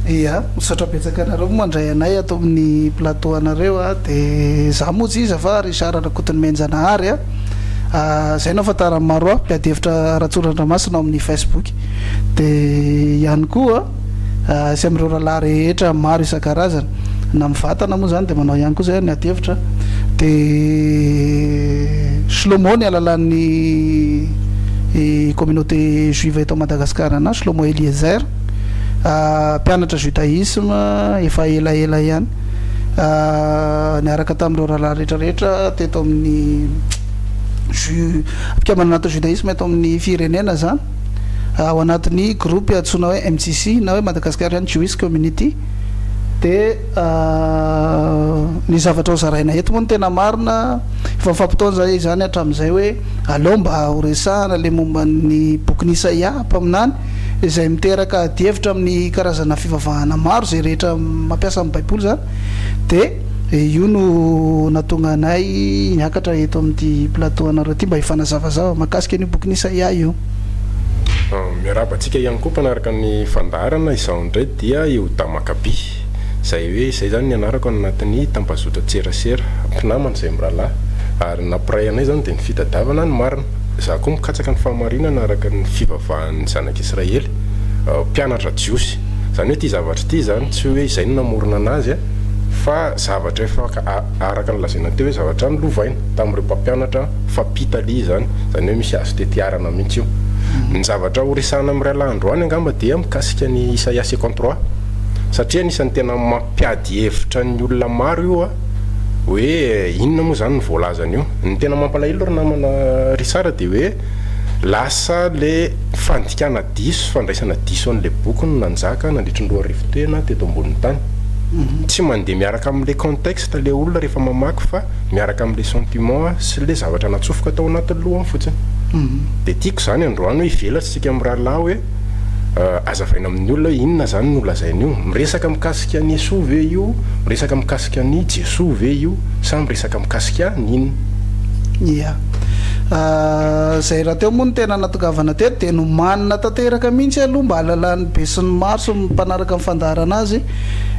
Ia, misaotra betsaka anareo mandray anay ato amin'ny plateau anareo a, dia za moa tsy iza fa Richard Rakotonimenjanahary a, zay no ahafantaran'ny maro ahy, mpiady hevitra Ratsorandramasina ao amin'ny Facebook. dia ihany koa sy amin'ireo rahalahy rehetra maro isan-karazany na mivatana moa izany dia manao ihany koa izay ny adihevitra dia Shlomo ny alalan'ny communauté juive eto Madagascar na Shlomo Eliezer mpianatra judaisme efa elaela ihany niaraka tamin'ireo rahalahy rehetra rehetra teto amin'ny fikambanana natao judaisme eto amin'ny firenena zany ao anatin'ny groupe antsoina hoe MJC na hoe Madagascarian Jewish Community de ny zavatra ho zaraina eto moa ny tena marina efa mifampitaona zay izany hatramin'izay hoe aleo mba ho resahana le momba ny bokin'i Isaia mpaminany izay miteraka adihevitra amin'ny karazana fivavahana maro zay rehetra mampiasa amin'ny baiboly zany de Io no nahatonga anay niakatra eto amin'ity plateau anareo ity mba hifanazavazava mahakasika an'io bokin'i Isaia io. Miarahaba antsika ihany koa mpanaraka ny fandaharana, izaho indray dia Eoda Makaby, izay hoe izay izany ny anarako any anatin'ny tambazotran-tserasera, mpinamana izay mirahalahy, ary ny nampiray anay izany dia ny fitadiavana ny marina, izaho koa mikatsaka ny fahamarinana araka ny fivavahan'ny zanak'Israely, mpianatra jiosy. Izany hoe ity zavatra ity izany tsy hoe izay no namorona anazy a, fa zavatra efa araka ny lazaina teo hoe zavatra nolovaina tamin'ireo mpampianatra fa pitalia izany, izany hoe misy azo tetiarana mihitsy io. Ny zavatra horesahana amin'iray lahy androany angamba dia mikasika an'i Isaia second trois satria anisan'ny tena mampiady hevitra ny olona maro io a, hoe inona moa izany ny voalazany io. Ny tena mampalahelo ry namana Richard dia hoe. Lasa le fandikana diso, fandraisana diso an'le boky no nanjaka nandritry ny roa arivo tena teto ambonin'ny tany. Tsy mandeha miaraka amin'le contexte le olona rehefa mamaky fa miaraka amin'le sentiment sy le zavatra natsofoka tao anatin'ny lohany fotsiny. De tiako zany androany hoe hivelatra isika mirahalahy hoe azavaina amin'ny olona hoe inona zany no lazainy io? Miresaka mikasika an'i Yesoa ve io? Miresaka mikasika an'i Jesoa ve io? Sa miresaka mikasika an'inona? Izay rahateo moa no tena natongavana teto dia nomanina tanteraka mihitsy aloha mba hahalalan'ny besinimaro sy ny mpanaraka ny fandaharana azy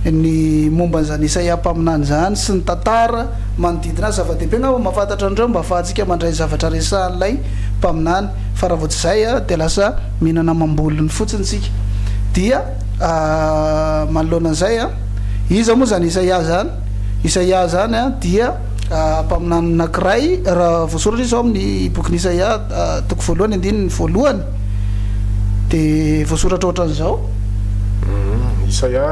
ny momba an'izany Isaia mpaminany izany sy ny tantara manodidina azy. Zava-dehibe angamba mba fantatra an'ireo mba hahafahantsika mandray ny zavatra resahan'ilay mpaminany fa raha vao tsy izay dia lasa mihinana amam-bolony fotsiny isika. Dia manoloana an'izay, iza moa izany Isaia izany? Isaia izany dia. Mpaminany anankiray, raha voasoratra izy ao amin'ny bokin'i Isaia toko voalohany andininy voalohany, dia voasoratra ohatran'izao. Hmm, Isaia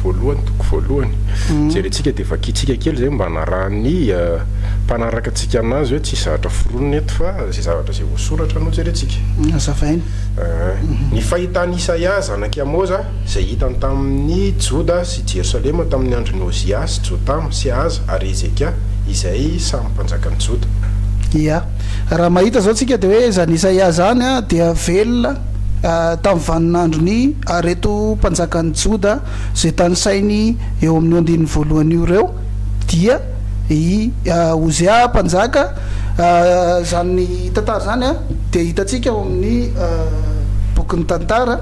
voalohany toko voalohany. Hmm. Jerentsika dia vakintsika kely izay mba hanarahan'ny eh, mpanaraka antsika anazy hoe tsisy zavatra foronina eto fa izay zavatra izay voasoratra no jerentsika. Hazavaina. Eh, Ny fahitan'i Isaia zanak'i Amoza izay hitany tamin' ny Joda sy Jerosalema tamin' ny andron' i Ozia sy Jotama sy Ahaza ary Hezekia, izay samy mpanjakan' ny Joda. Ia. Raha mahita izao tsika dia hoe izany Isaia izany dia velona tamin'ny vaninandron'i ireto mpanjakan'ny Joda izay tanisainy eo amin'ny andininy voalohany io ireo dia i Ozia mpanjaka. Izany tantara izany dia hitantsika ao amin'ny bokin'ny Tantara.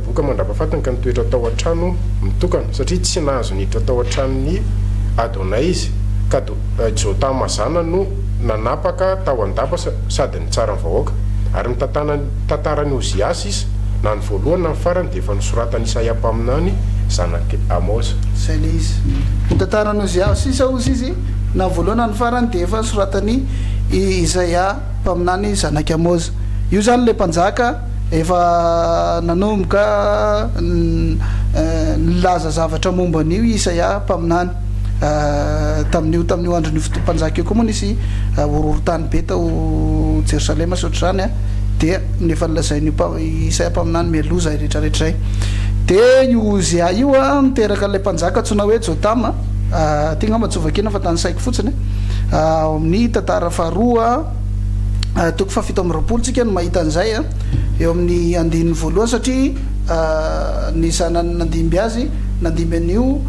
Voka mandrapafatiny ka nitoetra tao an-trano mitokana, satria tsy nahazo niditra tao an-tranon'i Adona izy, ka Jotama zanany no nanapaka tao an-dapa sady nitsara ny vahoaka. Ary mitantana ny tantaran'i Oziasy izy, na ny voalohany na ny farany, dia efa nosoratan'i Isaia mpaminany, zanak'i Amoza. Izay ilay izy. Ny tantaran'i Oziasy sy Ozizy, na ny voalohany na ny farany, dia efa nosoratan'i Isaia mpaminany, zanak'i Amoza. Io izany ilay mpanjaka. Efa nanomboka nilaza zavatra momba an'io i Isaia mpaminany. Tamin'io tamin'io andron'io fotoam-panjaka io koa moa nisy horohorontany be tao Jerosalema sy ohatr'izany, dia efa nolazain'io mpa, i Isaia mpaminany mialoha izay rehetrarehetra izay. Dia io Ozia io niteraka an'ilay mpanjaka antsoina hoe Jotama, ity angamba tsy ho vakiana fa tanisaiko fotsiny, ao amin'ny tantara faharoa. toko fahafito amby roapolo tsika no mahita an'izay a eo amin'ny andininy voalohany satria ny zanany nandimby azy nandimby an'io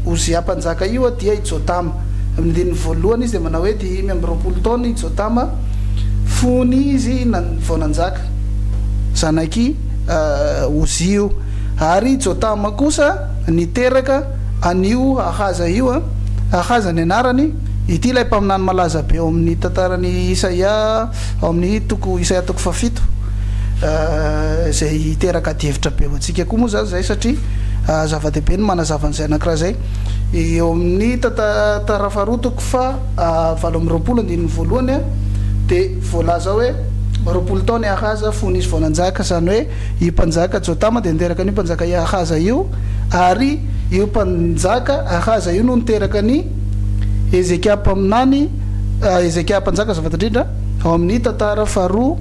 Ozia mpanjaka io dia i Jotama amin'ny andininy voalohany izy dia manao hoe dimy amby roapolo taona i Jotama fony izy vao nanjaka zanak'i Ozia io ary i Jotama kosa niteraka an'io Ahaza io a Ahaza ny anarany Ity ilay mpaminany malaza be ao amin' ny tantaran' i Isaia, ao amin' ny toko Isaia toko fahafito, izay hiteraka adihevitra be ho antsika koa moa izany izay satria zava-dehibe ny manazava an' izay anankiray izay eo amin' ny tanta tara faharoa toko fahavalo amby roapolo andininy voalohany a dia voalaza hoe roapolo taona i Ahaza fony izy vao nanjaka, izany hoe io mpanjaka Jotama dia niteraka an' io mpanjaka Iahaza io ary io mpanjaka Ahaza io no niteraka ny Hezekia mpaminany, Hezekia mpanjaka azafady indrindra, ao amin'ny tantara faharoa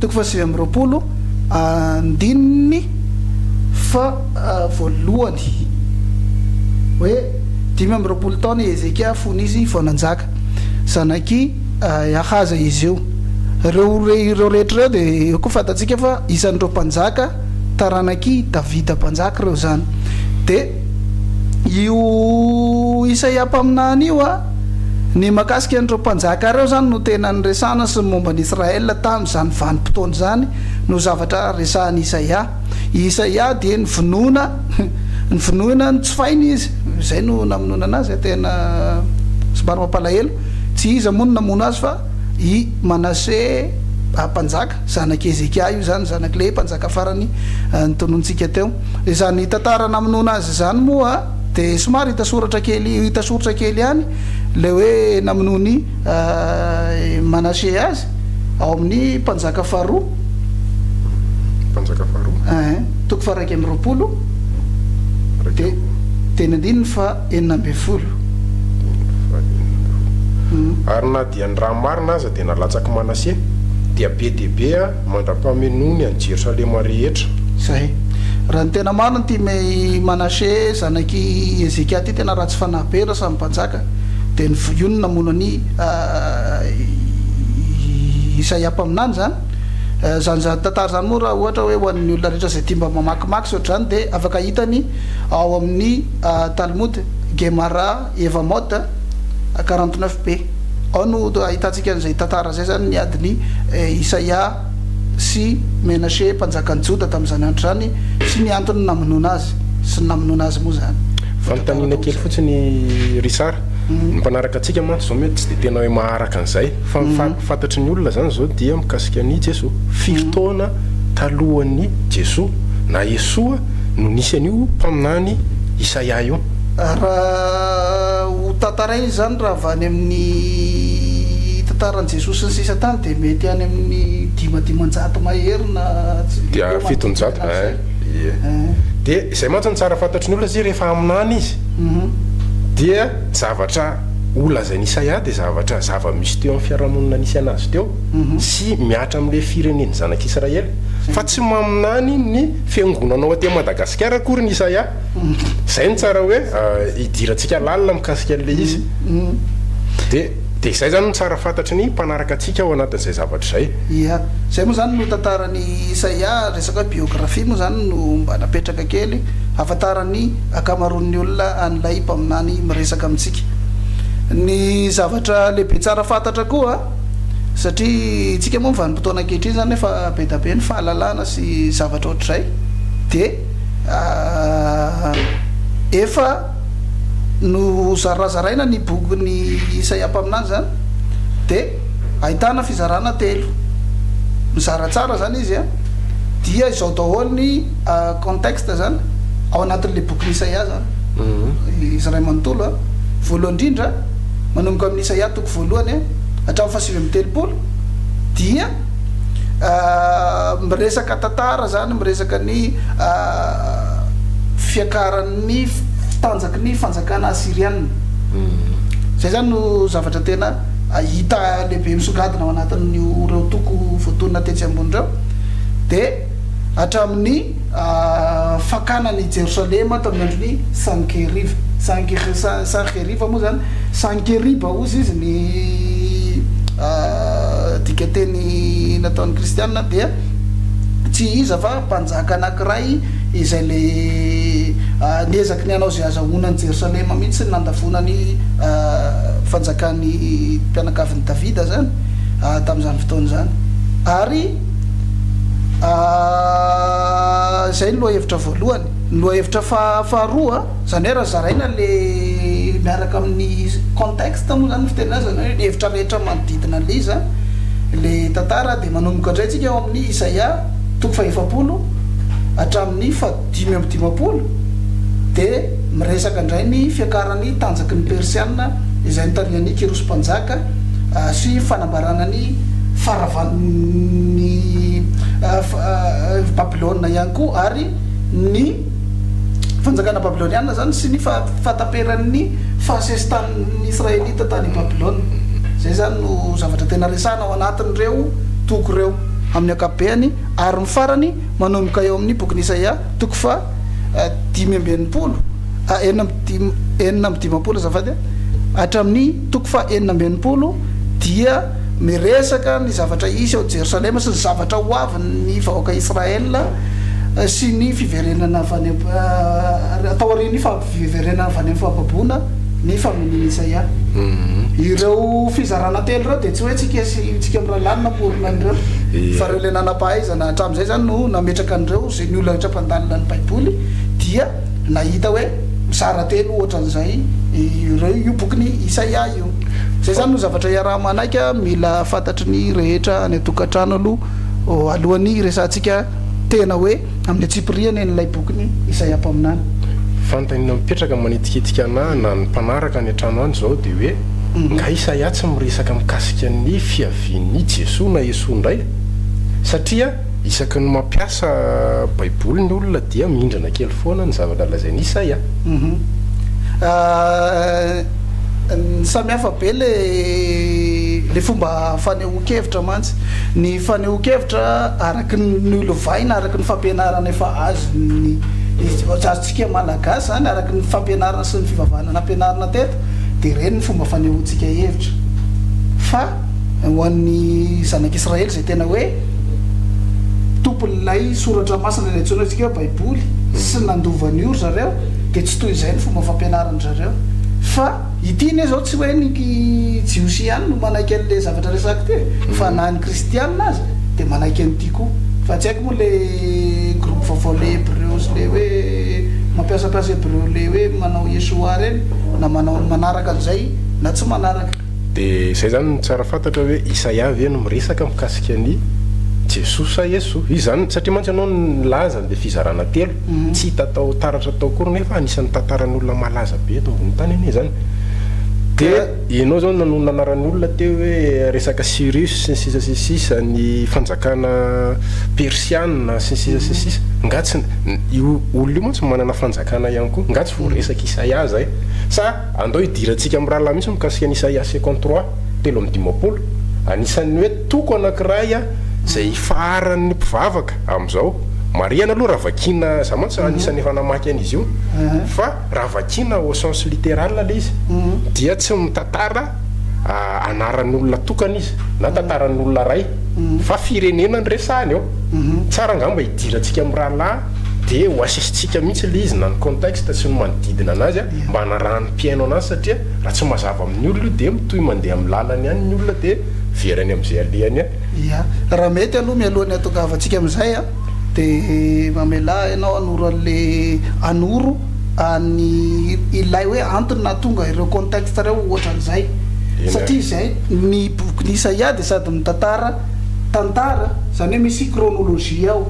toko fahasivy amby roapolo andininy fahavoalohany hoe dimy amby roapolo taona i Hezekia fony izy vao nanjaka, zanak'i Ahaza izy io. Ireo ireo rehetra ireo dia eo koa fantatsika fa isan'ireo mpanjaka taranak'i Davida mpanjaka ireo izany dia. io Isaia mpaminany io a! Ny mahakasika an'ireo mpanjaka ireo izany no tena niresahana sy ny momba an'i Israël tamin'izany vanim-potoana izany no zavatra resahan'i Isaia. I Isaia dia nivonona nivonona notsofaina izy, izay no namononana azy, tena somary mampalahelo. Tsy iza moa no namono azy fa i Manase mpanjaka, zanak'i Hezekia io izany, zanak'i Lehi, mpanjaka farany notononintsika teo. Izany tantara namonoana azy izany moa dia somary hita soratra kely hita soritra kely ihany ilay hoe namonoan'i Manase azy ao amin'ny Mpanjaka faharoa, Mpanjaka faharoa. Ee, toko faha-iraika amby roapolo, dia teny andininy faha-enina ambin'ny folo. Andininy faha-enina ambin'ny folo. Ary na dia ny raha marina aza dia nalatsaky Manase dia be dia be mandra-pamenoany an'i Jerosalema rehetra. Izay. Raha ny tena marina, ity Me i Manase zanak'i Hezekia ity tena ratsy fanahy be, raha samy mpanjaka, dia ny voiony namono an'i Isaia mpaminany izany. Izany izany tantara izany moa raha ohatra hoe ho an'ny olona rehetra izay tia mba mamakimaky sy ohatr'izany dia afaka hitany ao amin'ny Talmud, Gemara, Eva Mode, quarante neuf be. Ao no ahitantsika an'izay tantara izay izany ny adin'i Isaia sy Menache mpanjakan'i Joda tamin'izany andro izany sy ny antony namonoana azy sy ny namonoana azy moa izany. Fanontaniana kely fotsiny Richard, ny mpanaraka antsika mantsy izao mety tsy dia tena hoe maharaka an'izay fa ny fantatry ny olona izany izao dia mikasika an'i Jesoa. Firy taona talohan'i Jesoa na Esoa no nisy an'io mpaminany Isaia io? Raha ho tantaraina izy izany raha avy any amin'ny tantaran'i Jesosy ny sisa tany dia mety any amin'ny dima dimanjato mahery na Dia eo fitonjato manodidina izay. eh ie. Eh. Dia izay mantsy no tsara fantatry ny olona izay rehefa haminany izy. Mhm. Dia zavatra ho lazain'i Isaia dia zavatra zava-misy teo amin'ny fiarahamonina nisy anazy teo Mhm. sy mihatra amin'ilay firenen'ny zanak'Israely. Fa tsy maminany ny fiangonana ao aty Madagasikara akory ny Isaia. Zay no tsara hoe idirantsika lalina mikasika an'ilay izy. Dia dia izay izany no tsara fantatry ny mpanaraka antsika ao anatin'izay zavatra izay. Ia. Izay moa izany no tantaran'i Isaia, resaka hoe biografia moa izany no mba napetraka kely, hahafantaran'ny ankamaroan'ny olona an'ilay mpaminany miresaka amintsika. Ny zavatra lehibe tsara fantatra koa, satria isika moa amin'ny vanim-potoana ankehitriny izany efa be dia be ny fahalalana sy zavatra ohatr'izay, dia. Efa nozarazaraina ny bokin'i Isaia mpaminany izany, dia ahitana fizarana telo, mizara tsara izany izy an, dia izao daholo ny contexte izany ao anatin'ilay bokin'i Isaia izany, izy iray manontolo an, voalohany indrindra manomboka amin'i Isaia toko voalohany an hatramin'ny fahasivy amby telopolo dia. miresaka tantara zany miresaka ny fiakaran'ny tanjaky ny fanjakana asirianina zay zany no zavatra tena hita lehibe misongadina ao anatin'io reo toko voatonona tetsy ambony reo de hatramin'ny fakana an' i Jerosalema tamin' ny andron' i Sankeriba. Sanker, sa, Sankeriba moa izany, Sankeriba hozy izy, ny dikanteny nataon' ny Kristiana dia tsy iza fa mpanjaka anankiray izay le niezaky ny hanao izay hazahoana an' i Jerosalema mihitsy ny nandavoana ny fanjakan' ny mpianakavin' i Davida izany tamin' izany fotoana izany ary Izay ny lohahevitra voalohany. Ny lohahevitra faha- faharoa, izany hoe raha zaraina le miaraka amin'ny contexte moa zany ny fiteny azy, izany hoe ny hevitra rehetra manodidina an'ilay izy an, le tantara dia manomboka indray tsika ao amin'ny Isaia toko fahaefapolo hatramin'ny faha. dimy amby dimampolo dia miresaka indray ny fiakaran'ny tanjaky ny Persiana izay nitarihan'i Kyrosy Mpanjaka sy fanambarana ny faharavan'ny Babylona ihany koa ary ny fanjakana Babyloniana izany sy ny fahataperan'ny fahasesitanin'ny Israelita tany Babylona. Izay izany no zavatra tena resahana ao anatin'ireo toko ireo amin'ny ankapobeany ary ny farany Manomboka eo amin'ny bokin'i Isaia, toko faha dimy amby enimpolo, a enina amby dim enina amby dimampolo azafady a, hatramin'ny toko faha enina amby enimpolo dia miresaka ny zavatra hisy ao Jerosalema sy ny zavatra ho avin'ny vahoaka Israël sy ny fiverenana avy any am taorian'ny fampiverenana avy any amin'ny fahababoana ny faminanian'i Isaia. Ireo fizarana telo ireo dia tsy hoe tsika sy tsika mirahalahy no namorona an'ireo fa ireo ilay nanam-pahaiza. Na hatramin'izay izany no nametraka an'ireo izay ny olona rehetra mpandalina ny Baiboly dia nahita hoe mizara telo hoatran'izay ireo io bokin'i Isaia io. Izay izany no zavatra iaraha-manaiky mila fantatry ny rehetra any an-tokantrano aloha alohan'ny hiresahantsika tena hoe amin'ny antsipirihany an'ilay bokin'i Isaia mpaminany. Fanontaniana mipetraka manitikitika anah na ny mpanaraka any an-trano any izao dia hoe, Nga Isaia tsy miresaka mikasika ny fiavian'i Jesoa na Esoa indray? Satria isaky ny mampiasa baiboly ny olona dia mihindrana kely foana ny zavatra lazain'i Isaï a! Uhm samihafa be le le fomba fanehoan-kevitra mantsy, ny fanehoan-kevitra araky ny nolovaina araky ny fampianarana efa azon'ny azontsika malagasy zany araky ny fampianarana sy ny fivavahana nampianarina teto de reny ny fomba fanehoantsika hevitra fa ho an'ny zanak'Israely izay tena hoe tompon'ilay soratra masina ilay antsoina antsika hoe baiboly sy nandova an'io ry zareo dia tsy toy izay ny fomba fampianaran-dry zareo fa ity anie izao tsy hoe ny jiosy ihany no manaiky an'ilay zavatra resako ity fa na ny kristiana aza dia manaiky an'ity koa fa tsy haiko moa ilay groupe vaovao ilay hebreo sy ilay hoe mampiasam-piasa hebreo ilay hoe manao yeshoua ireny na manao ny manaraka an'izay na tsy manaraka Dia izay izany no tsara fantatra hoe Isaia ve no miresaka mikasika an'i Jesoa sa Eso? Izy izany, satria mantsy ianao nilaza an'ilay fizarana telo, tsy hita tao taratra tao akory nefa anisan'ny tantaran'olona malaza be eto ambony tany anie izany. Dia ianao izao no nanarany olona teo hoe resaka Cyrus sy ny sisa sy ny sisa, ny fanjakana persiana sy ny sisa sy ny sisa. Nga tsy, io olona io mantsy manana fanjakana ihany koa, nga tsy voaresak'i Isaia izay? Sa. Andao hidirantsika amin'ny rahalahy misy mikasika an'i Isaia second trois telo amby dimampolo, anisan'ny hoe toko anankiray izay ifaharan'ny mpivavaka amin'izao. Marihana aloha raha vakiana, za mantsy anisan'ny efa namaky an'izy io, fa raha vakiana au sens littéral ilay izy dia tsy mitantara anaran'olona tokana izy na tantaran'olona iray fa firenena no resahany ao. Tsara angamba hidirantsika amin'ny rahalahy. dia ho asisintsika mihitsy ilay izy na ny contexte sy ny manodidina anazy an, mba hanarahan'ny mpihaino anazy satria raha tsy mazava amin'ny olona io dia mitohy mandeha amin'ny lalany ihany ny olona dia very any amin'izay alehany any. Ia, raha mety aloha mialohan'ny hahatongavantsika amin'izay an, dia mamelà ianao hanoro an'ilay hanoro an'ny ilay hoe antony nahatonga ireo contexte ireo ohatran'izay, satria izay ny bokin'i Isaia dia sady mitantara tantara, izany hoe misy chronologie ao,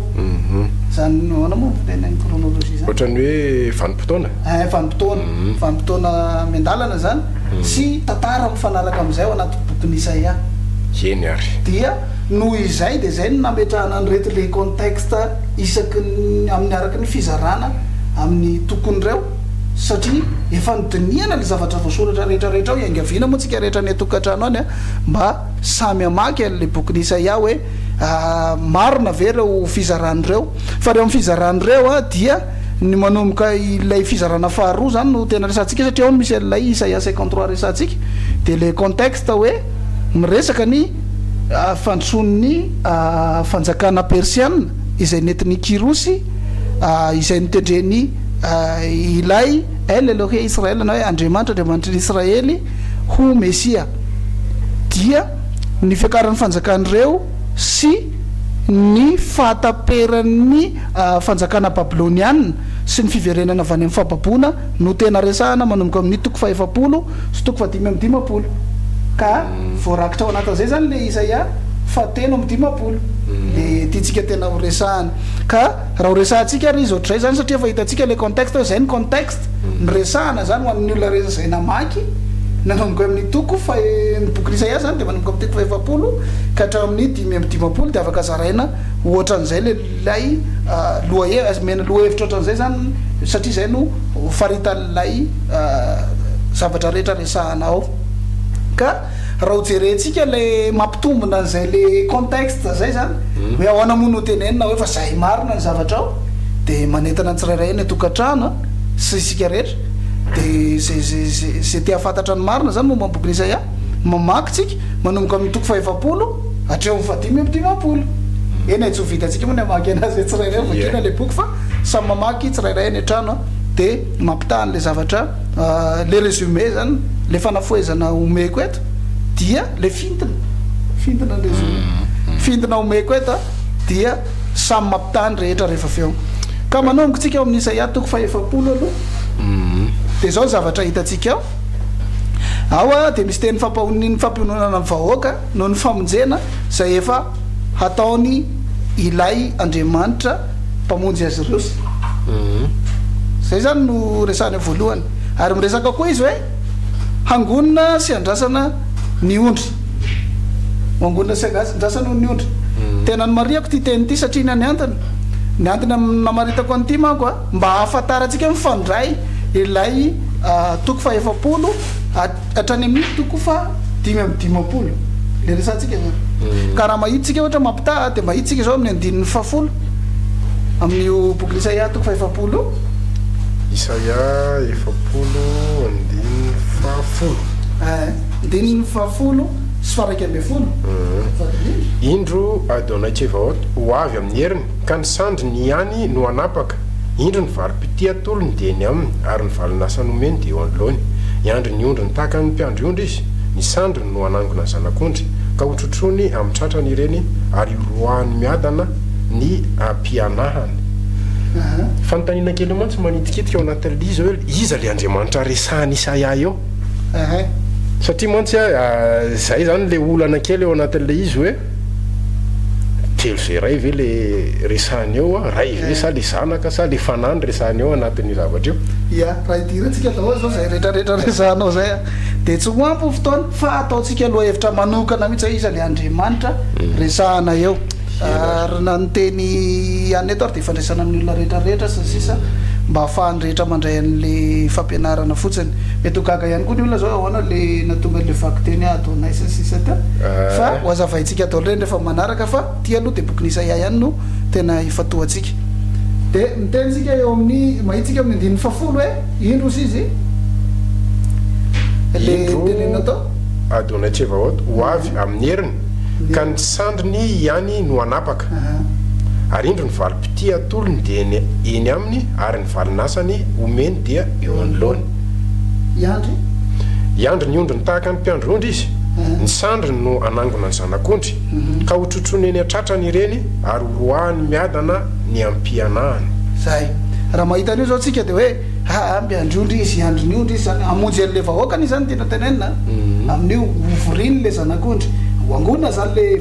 izany ahoana moa ny fiteny ny chronologie izany? Ohatran'ny hoe vanim-potoana? Eh, vanim-potoana, vanim-potoana miandalana izany sy tantara mifanaraka amin'izay ao anaty bokin'i Isaia. Eny ary. Dia noho izay dia izay no nametrahana an'ireto les contextes isaky ny amin'ny araka ny fizarana amin'ny tokony ireo satria efa nodinihana ny zavatra voasoratra rehetra rehetra ao, iangaviana moa tsika rehetra any an-tokantrano any mba Samy hamaky an'ilay bokin'i Isaia hoe, Marina ve ireo fizarana ireo? Fa ireo amin'ny fizarana ireo dia ny manomboka ilay fizarana faharoa izany no tena resahantsika satria ao no misy an'ilay Isaia cinquante trois resahantsika. Dia ilay contexte hoe miresaka ny fandrosoan'ny fanjakana persiana izay nentin'i Kyrosy izay notendren'i Ilay El Elohe Israel na hoe Andriamanitra, Andriamanitry ny Israely ho Mesia. dia ny fiakaran'ny fanjakan'ireo sy ny fahataperan'ny fanjakana babylonianina sy ny fiverenany avy any amin'ny fahababoana no tena resahana manomboka amin'ny toko fahefapolo sy toko fahadimy amby dimampolo ka voarakitra ao anatin'izay izany ilay Isaia fahatelo amby dimampolo dia tiantsika tena horesahana ka raha horesahantsika ary izy ohatr'izay izany satria efa hitantsika ilay contexte hoe izay ny contexte ny resahana zany ho amin'ny olona rehetra izay namaky nanomboka amin'ny toko fa ny bokin'i Isaia zany dia manomboka amin'ny toko fahefapolo ka hatramin'ny dimy amby dimampolo dia afaka zaraina ohatran'izay ilay lohahe- omena lohahevitra ohatran'izay zany satria izay no faritan'ilay zavatra rehetra resahana ao ka Raha ho jerentsika le mampitombina an'izay le contexte zay zany hoe ahoana moa no hotenenina hoe fa zay marina ny zavatra ao de manentana ny tsirairay any an-tokantrano a sy isika rehetra de ze ze ze ze te hahafantatra ny marina zany momba ny bokin'i Isaia mamaky tsika manomboka amin'ny toko fahefapolo hatreo amin'ny fahadimy amby dimampolo eny e tsy ho vitantsika moa ny hamaky anazy hoe tsirairay vakina le boky fa samy mamaky tsirairay any an-trano a de mampitaha an'le zavatra Le résumé zany, le fanafohezana omeko eto dia le fintina, fintina ny résumé, fintina omeko eto dia samy mampitaha ny rehetra rehefa avy eo. Ka manomboka tsika ao amin'ny Isaia toko fahefapolo aloha, dia zao ny zavatra hitantsika ao, ao dia misy teny fampahoniny fampiononana ny vahoaka noho ny famonjena izay efa hataony ilay Andriamanitra, mpamonjy azy ireo sy zay zany no resahany voalohany ary miresaka koa izy hoe hangonina sy andrasana ny ondry mangonina sy andrasana ny ondry tena ny mariako ty teny ty satria ny any antony ny antony namaritako any ty manko a mba hahafantaratsika mifandray ilay toko fahefapolo Hatrany amin'ny toko fa dimy amby dimampolo le resatsika zany ka raha mahita tsika ohatra mampitaha de mahita tsika zao amin'ny andininy fahafolo amin'io bokin'i Isaia toko fahefapolo Isaia efapolo andininy fahafolo. Eeh andininy fahafolo sy faraika ambin'ny folo. Indro Adonai-Tsevaot ho avy amin'ny heriny. Ka ny sandriny ihany no hanapaka. Indro ny varom-pitia atolony dia eny aminy, ary ny valon'asa nomeny dia eo anoloany. Hiandry ny ondriny tahaka ny mpiandry ondry izy, ny sandriny no hanangona ny zanak'ondry, ka hotrotroiny amin'ny tratrany ireny, ary horoahany miadana ny ampianahany. Fanontaniana kely mantsy manitikitika ao anatin'ilay izy hoe iza ilay Andriamanitra resahan'i Isaia eo? Satria mantsy izay izany ilay olana kely ao anatin'ilay izy hoe. kely zay ray ve le resahiny eo a? ray ve sa le zanaka sa le fanahy no resahiny eo anatin'io zavatra io? Ia, raha idirantsika daholo izao izay rehetra rehetra resahanao izay a, dia tsy ho ampy ny fotoana fa ataontsika lohahevitra manokana mihitsy hoe iza le Andriamanitra resahana eo. Ary na ny teny ihany eto ary. ifandraisana amin'ny olona rehetra rehetra sy ny sisa mba hahafahan'ny rehetra mandray an'le fampianarana fotsiny mety ho gaga ihany koa ny olona zao hoe ahoana le nahatonga an'le vakiteny ah ataonay sy ny sisa teo fa ho azavaintsika daholo reny rehefa manaraka fa ty aloha de bokin'i Isaia ihany no tena ifantohantsika de miteny tsika eo amin'ny mahitsika amin'ny andininy fahafolo hoe indro hozy izy le nitenenina tao Adonai Tsevaot ho avy amin'ny heriny ka ny sandriny ihany no hanapaka. Ary indro ny valim-pitia atolony dia eny aminy, ary ny valin'asany omeny dia eo anoloany. Hiandry ny ondriny tahaka ny mpiandry ondry izy, ny sandriny no hanangona ny zanak'ondry, ka hotrotroiny eny an-tratrany ireny, ary horoahany miadana ny am-pianahany. Izay. Raha mahita an'io izao tsika dia hoe, aa, mpiandry ondry izy, hiandry ny ondry izy izany, hamonjy an'ilay vahoakany izy izany no tiana tenenina, amin'io, hovoriany ilay zanak'ondry, ho angona izany ilay.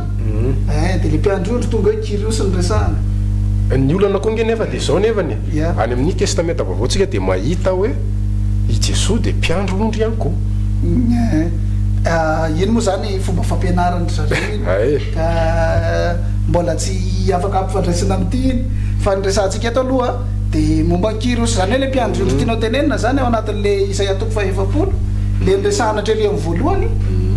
Dia le mpiandry ondry tonga hoe Kyriosy no resahana. Ny olana koa nge nefa dia izao nefany e, any amin'ny testamenta vaovao tsika dia mahita hoe i Jesoa dia mpiandry ondry ihany koa. Iny moa izany fomba fampianaran-dry zareo iny ka mbola tsy afaka ampifandraisina amin'ity iny. Fa ny resahantsika eto aloha dia momba an'i Kyriosy, izany hoe ilay mpiandry ondry tianao tenenina izany ao anatin'ilay Isaia toko faha-efapolo, ilay niresahana hatreo amin'ny voalohany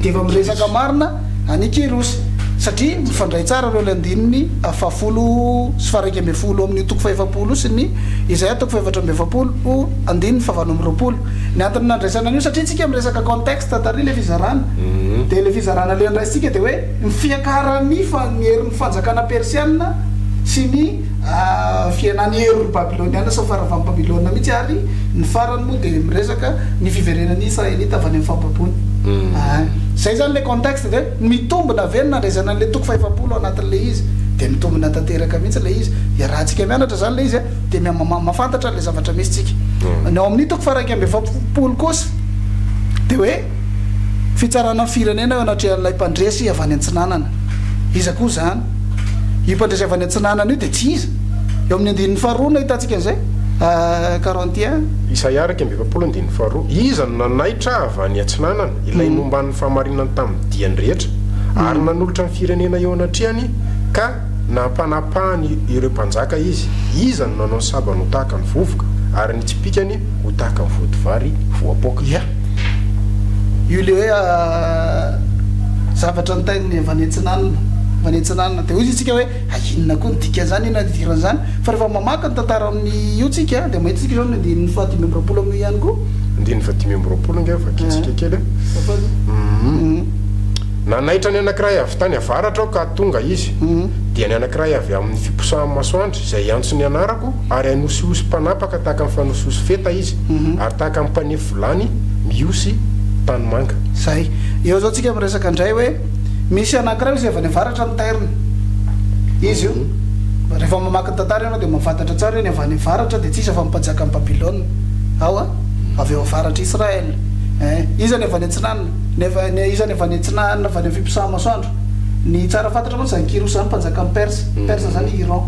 dia efa miresaka marina. any Kyrosy, satria mifandray tsara ireo ilay andininy fahafolo sy faharaika ambin'ny folo amin'io toko fahefapolo sy ny Izaia toko fahefatra amby efapolo andininy fahavalo amby roapolo. Ny antony nandraisana an'io, satria isika miresaka contexte tary ilay fizarana, dia ilay fizarana ilay andraisintsika dia hoe ny fiakaran'ny fa ny herin'ny fanjakana persiana sy ny. fihenan'ny herin'ny Babyloniana sy ny faharavan'i Babylona mihitsy ary ny farany moa dia miresaka ny fiverenan'ny Israelita avy any amin'ny fahababoana. Aany. Izay izany ilay contexte ve? Mitombina ve ny nandraisana an'ilay toko fahefapolo ao anatin'ilay izy? Dia mitombina tanteraka mihitsy ilay izy. Iarahantsika mianatra izany ilay izy a! Dia mihamahamafantatra an'ilay zavatra misy tsika. Ny ao amin'ny toko faha-iraika amby efapolo kosa dia hoe. Fitsarana firenena eo anatrehan'ilay mpandresy avy any antsinanana. Iza koa izany? Io mpandresy avy any antsinanana io dia tsy iza? Eo amin'ny andininy faharoa no ahitantsika an'izay, Korintiana. Isaia iraika amby efapolo andininy faharoa, Iza no nanaitra avy any atsinanana, ilay nomban'ny fahamarinany tamin'ny diany rehetra, ary nanolotra ny firenena eo anatrehany, ka. Nampanapahany ireo mpanjaka izy, iza no nanao ny sabany ho tahaka ny vovoka, ary ny tsipìkany ho tahaka ny vodivary voapoaka? Ia? Io ilay hoe zavatra nitain'ny vanetsinanona, vanetsinanona. Dia hoy izy isika hoe, hay inona koa ny dikan'izany, inona ny idiran'izany? Fa rehefa mamaky ny tantara amin'io tsika, dia mahita tsika izao ny andininy fahadimy amby roapolo amin'io ihany koa. Andininy fahadimy amby roapolo ange vakitsika kely a. Tapaka. Uhm. Nanaitra ny anankiray avy tany avaratra aho ka tonga izy, dia ny anankiray avy amin' ny fiposahan'ny masoandry, izay hiantso ny anarako, ary hanosihosy mpanapaka tahaka ny fanosihosy feta izy, ary tahaka ny mpanefy vilany mihosy tanimanga. Izay. Eo izao tsika miresaka indray hoe misy anankiray izay avy any avaratra ny tairony. Izy io. Rehefa mamaky ny tantara ianao dia mahafantatra tsara hoe ny avy any avaratra dia tsy iza fa ny mpajakan'i Babilôna. Ao a! Avy ao avaratr'i Israël. Ee. Iza ny avy any atsinanana? Ny avy any, izany avy any atsinanana, avy any amin'ny fiposaha-masoandro. Ny tsara fantatra mantsy izany Kyrosy izany, mpanjakan'i Persa. Persa izany i Iran.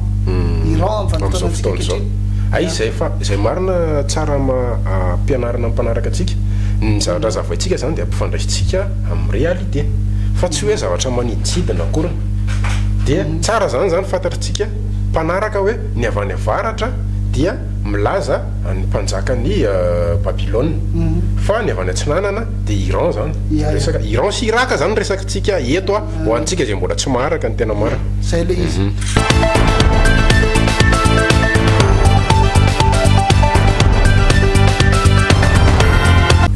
Iran amin'ny vanim-potoanantsika ankehitriny. Amin'izao fotoana izao. Hay izay fa, izay marina tsara ampianarina ny mpanaraka antsika. Ny zavatra zavaintsika izany dia ampifandraisintsika amin'ny réalité. Fa tsy hoe zavatra manidintsidina akoriny. Dia tsara izany izany fantatritsika mpanaraka hoe ny avy any avaratra dia. milaza ny mpanjakan'i Babylona fa ny avy any atsinanana dia Iran zany, resaka Iran sy Irak zany resakintsika eto a, ho antsika izay mbola tsy maharaka ny tena marina. Zay le izy.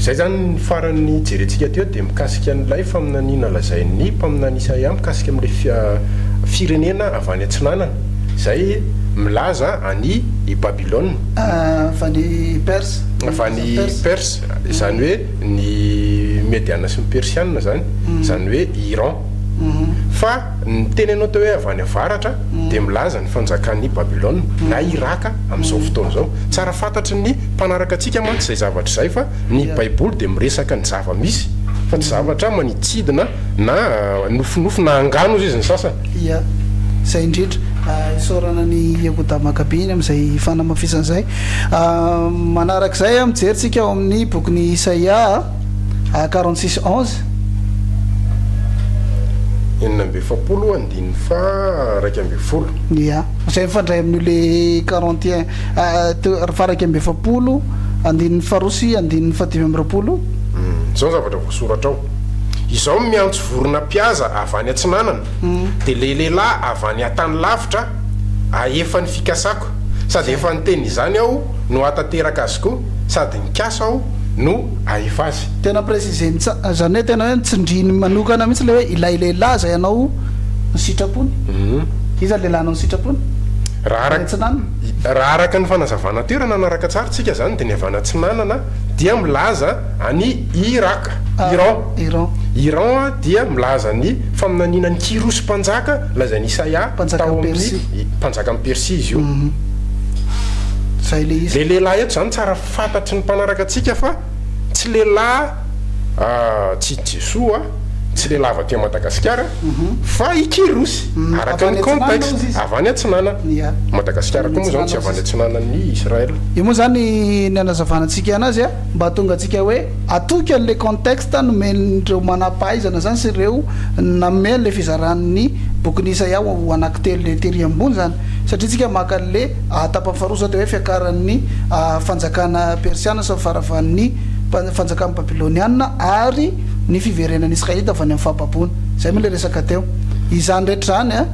Zay zany ny farany nijerentsika teo dia mikasika an'ilay faminaniana lazain'ny mpaminany Isaia mikasika amin'ilay firenena avy any atsinanana. izay milaza an' i Babilôna. Avy any Persa. Avy any Persa, izany hoe ny Mediana sy ny Persiana izany, izany hoe Iran. Fa ny teny anao teo hoe avy any avaratra dia milaza ny fanjakan' i Babilôna, na Iràka amin' izao fotoana izao. Tsara fantatry ny mpanaraka antsika mantsy izay zavatra izay fa ny Baiboly dia miresaka ny zava-misy fa tsy zavatra manitsidina na nofinofy na angano hoy izy ny sasany. Ia, izay indrindra. Isaorana an'i Iehoda Makabeny amin'izay fanamafisana izay. Manaraka izay, mijery isika ao amin'ny bokin'i Isaia, quarante-six onze. Enina amby efapolo, andininy faha iraika ambin'ny folo. Ia, izay mifandray amin'io le quarante et un, faha iraika amby efapolo, andininy faharoa sy andininy fahadimy amby roapolo. Izao ny zavatra voasoratra ao, Izaho miantso. Vorona mpihaza avy any atsinanana, dia ilay lehilahy avy any an-tany lavitra ahefa ny fikasako, sady efa niteny izany aho no hahatanteraka azy koa, sady nikasa aho no hahefa azy. Tena préciser-ny tsara, izany hoe tena hoe nitsindriny manokana mihitsy ilay hoe ilay lehilahy izay anao ny sitrapony. Iza ny lehilahy anao ny sitrapony? Raha Any araka, atsinanana? raha araka ny fanazavana teo, raha nanaraka tsara tsika izany, dia ny avy any atsinanana dia milaza an'i Irak. Iran, Iran dia milaza ny faminaniana an'i Kyrosy mpanjaka lazain'i Isaia tao amin'ny mpanjakan'i Persia izy io. Ilay lehilahy eto izany tsara fantatry ny mpanaraka antsika fa tsy lehilahy tsy i Jesoa, tsy lehilahy avy aty Madagasikara fa i Kyrosy, araka ny contexte, avy any atsinanana. Madagasikara koa moa izany tsy avy any atsinanan'i Israël. Io moa izany ny hanazavana antsika an'azy. Mba hahatongantsika hoe hatoky an'ilay contexte nomen'ireo manam-pahaizana izany sy ireo nanome an'ilay fizaran'ny bokin'i Isaia ho anankitelo ilay tery ambony izany, satria isika maka an'ilay tapany faharoa izao dia hoe fiakaran'ny fanjakana persiana sy ny faharavan'ny fanjakana babyloniana ary ny fiverenan'ny Israelita avy any amin'ny fahababoana. Izay moa ilay resaka teo. Izany rehetra izany.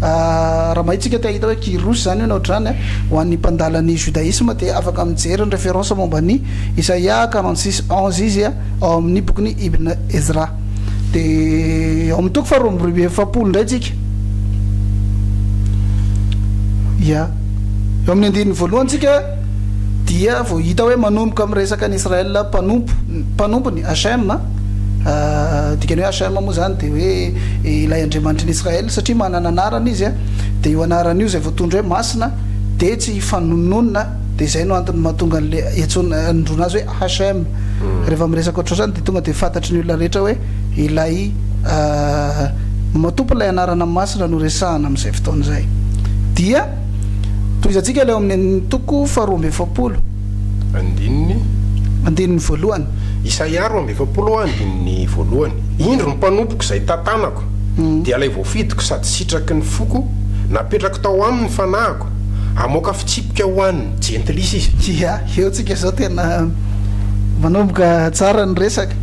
Raha mahitsika te hahita hoe Kyros izany io na ohatr'izany an, ho an'ny mpandala ny Judaisme dia afaka mijery ny reference momba an'i Isaia quarante six onze izy ao amin'ny bokin'i Ibn Ezra. Dia ao amin'ny toko faharoa amby roa amby efapolo indray tsika. Ya. Eo amin'ny andininy voalohany tsika. dia vao hita hoe manomboka miresaka ny Israel mpanompo mpanompony Hachem a dikany hoe Hachem moa zany dia hoe ilay Andriamanitry ny Israel satria manana anarana izy a dia io anarana io zay voatondro hoe masina dia tsy hifanononona dia zay no antony mahatonga an'le antsoina anondroana azy hoe Hachem rehefa miresaka ohatr'izany dia tonga dia fantatry ny olona rehetra hoe ilay matompo ilay anarana masina no resahana amin'izay fotoana izay dia Tohizantsika ilay ao amin'ny andininy toko faharoa amby efapolo. Andininy. Andininy voalohany. Isaia roa amby efapolo andininy voalohany. Indro ny mpanompoko izay tantanako, dia ilay voafidiko sady sitraky ny foko, napetrako tao aminy ny fanahiko, hamoaka fitsipika ho an'ny jentilisa izy. Ia, eo tsika izao tena manomboka tsara ny resaka.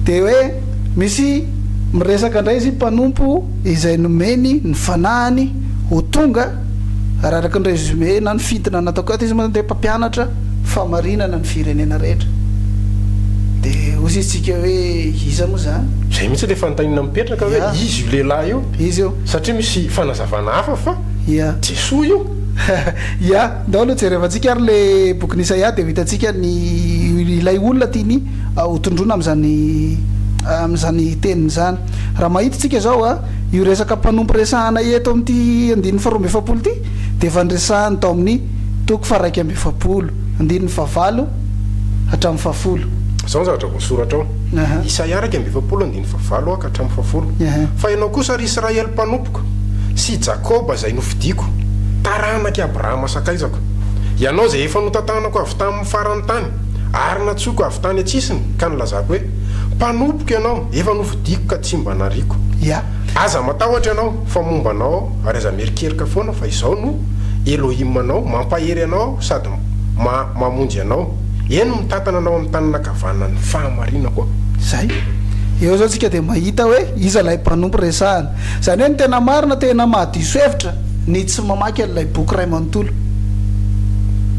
Dia hoe misy miresaka indray izy mpanompo izay nomeny ny fanahiny ho tonga ary araka ny résumé na ny fintina nataoko ato izy moa zany dia mpampianatra fahamarinana ny firenena rehetra dia hozy izy tsika hoe iza moa zany? Zay mihitsy le fanontanina mipetraka hoe iza io lehilahy io? Izy io. Satria misy fanazavana hafa fa Jesoa io. Ia, ndao aloha jerevantsika ary le bokin'i Isaia dia ho hitantsika ny ilay olona tiany hotondroina amin'izany amin'izany teniny izany. Raha mahita isika izao a. Io resaka mpanompo resahana eto amin'ity andininy faharoa amby efapolo ity dia efa niresahany tao amin'ny toko faharaika amby efapolo, andininy fahavalo hatramin'ny fahafolo. Izao ny zavatra voasoratra ao, Isaia iraika amby efapolo andininy fahavalo ka hatramin'ny fahafolo, Fa ianao kosa, ry Israely mpanompoko, sy i Jakoba izay nofidiko, taranak'i Abrahama sakaizako, ianao izay efa notantanako avy tamin'ny faran'ny tany, ary nantsoiko avy tany an-tsisiny, ka nilazako hoe, Mpanompoko ianao, efa nofidiko, Diako ka tsy mba nariako. Ia. Aza matahotra ianao, fa momba anao aho, ary aza mierikerika foana fa izaho no Elohim anao, mampahery anao aho sady ma, mamonjy anao. Eny, mitantana anao amin'ny tanana ankavanan'ny fahamarinako aho. Izay. Eo izao isika dia mahita hoe iza ilay mpanompo resahana. Izany hoe ny tena marina, tena mahadiso hevitra, ny tsy mamaky an'ilay boky iray manontolo.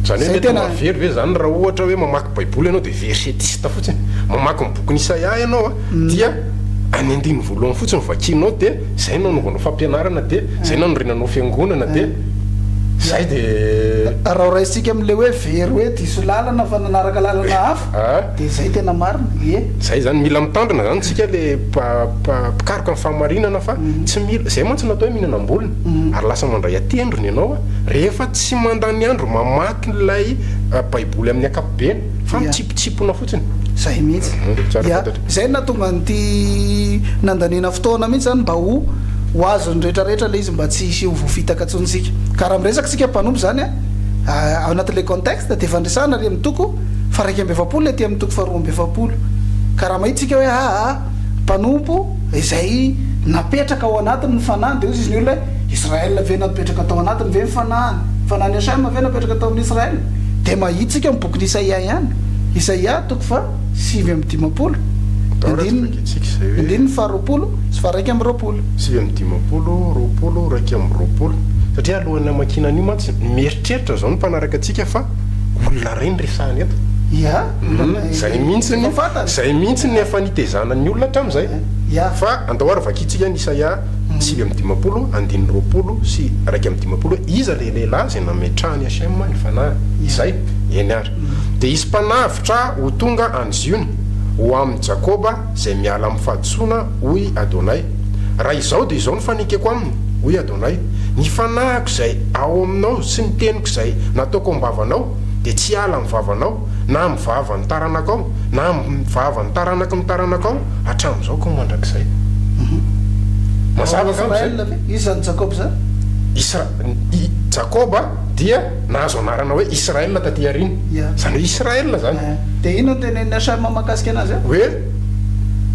Izany hoe mety mahavery ve izany raha ohatra hoe mamaky Baiboly ianao dia versetista fotsiny? Mamaky ny bokin'i Isaia ianao, dia any andininy voalohany fotsiny vakianao dia zay no anaovanao fampianarana dia zay no anorenanao fiangonana dia zay dia raha raisintsika amle hoe very hoe diso lalana fa nanaraka lalana hafa dia zay tena marina ie zay zany mila mitandrina zany tsika le mpikaroka ny fahamarinana fa tsy mila zay mantsy natao hoe mihinana ambolony ary lasa mandray atendrony ianao rehefa tsy mandany andro mamaky ilay baiboly amin'ny akapobeny fa mitsipitsipona fotsiny zay mihitsy dia zay nahatonga an'ity nandaniana fotoana mihitsy zany mba ho ho azon'ny rehetra rehetra le izy mba tsy hisy ho voafitaka ntsony isika ka raha miresaka isika mpanompo zany a ah, ao anatin'ilay contexte dia fandresana ary amin'ny toko faraika amby efapolo ety amin'ny toko faharoa amby efapolo ka raha mahita isika hoe aa ah, ah, mpanompo izay napetraka ao anatiny ny fanahiny dia hozy izy ny olona hoe Israel ve napetraka tao anatiny ve ny fanahiny fanahiny Hashem ve napetraka tao amin'ny Israel dia mahitsika ny bokin'i Isaia ihany, Isaia toko faha sivy amby dimampolo, andininy, andininy faha roapolo sy faha raika amby roapolo. Sivy amby dimampolo, roapolo, raika amby roapolo. Satria alohan'ny hamakiana an'io mantsy, mieritreritra izao ny mpanaraka antsika fa olona iray no resahina eto. Ia, olona izay mihitsy, izay mihitsy no efa nitezana ny olona hatramin'izay. Ia. Fa andao ary vakintsika ny Isaia. sivy amby dimampolo andininy roapolo sy iraika amby dimampolo hoe iza ilay lehilahy izay nametrahan'i Hachem ny fanahy? Izay, eny ary. Dia hisy mpanavotra ho tonga any Ziona, ho amin'i Jakoba izay miala amin'ny fahadisoana, hoy Adonay. Raha izao dia izao no fanekeko aminy, hoy Adonay, Ny fanahiko izay ao aminao sy ny teniko izay nataoko am-bavanao dia tsy hiala amin'ny vavanao, na amin'ny vavan'ny taranakao, na amin'ny vavan'ny taranaky ny taranakao, hatramin'izao ka ho mandrakizay. Mazava angamba izay? Israel ve? Iza ny Jakoba izany? Isra, i, Jakoba dia nahazo anarana hoe Israel taty aoriana. Ia. Izany hoe Israel izany. Eeh. Dia inona no tenenin'i Shem mahakasika anazy ao? Hoe,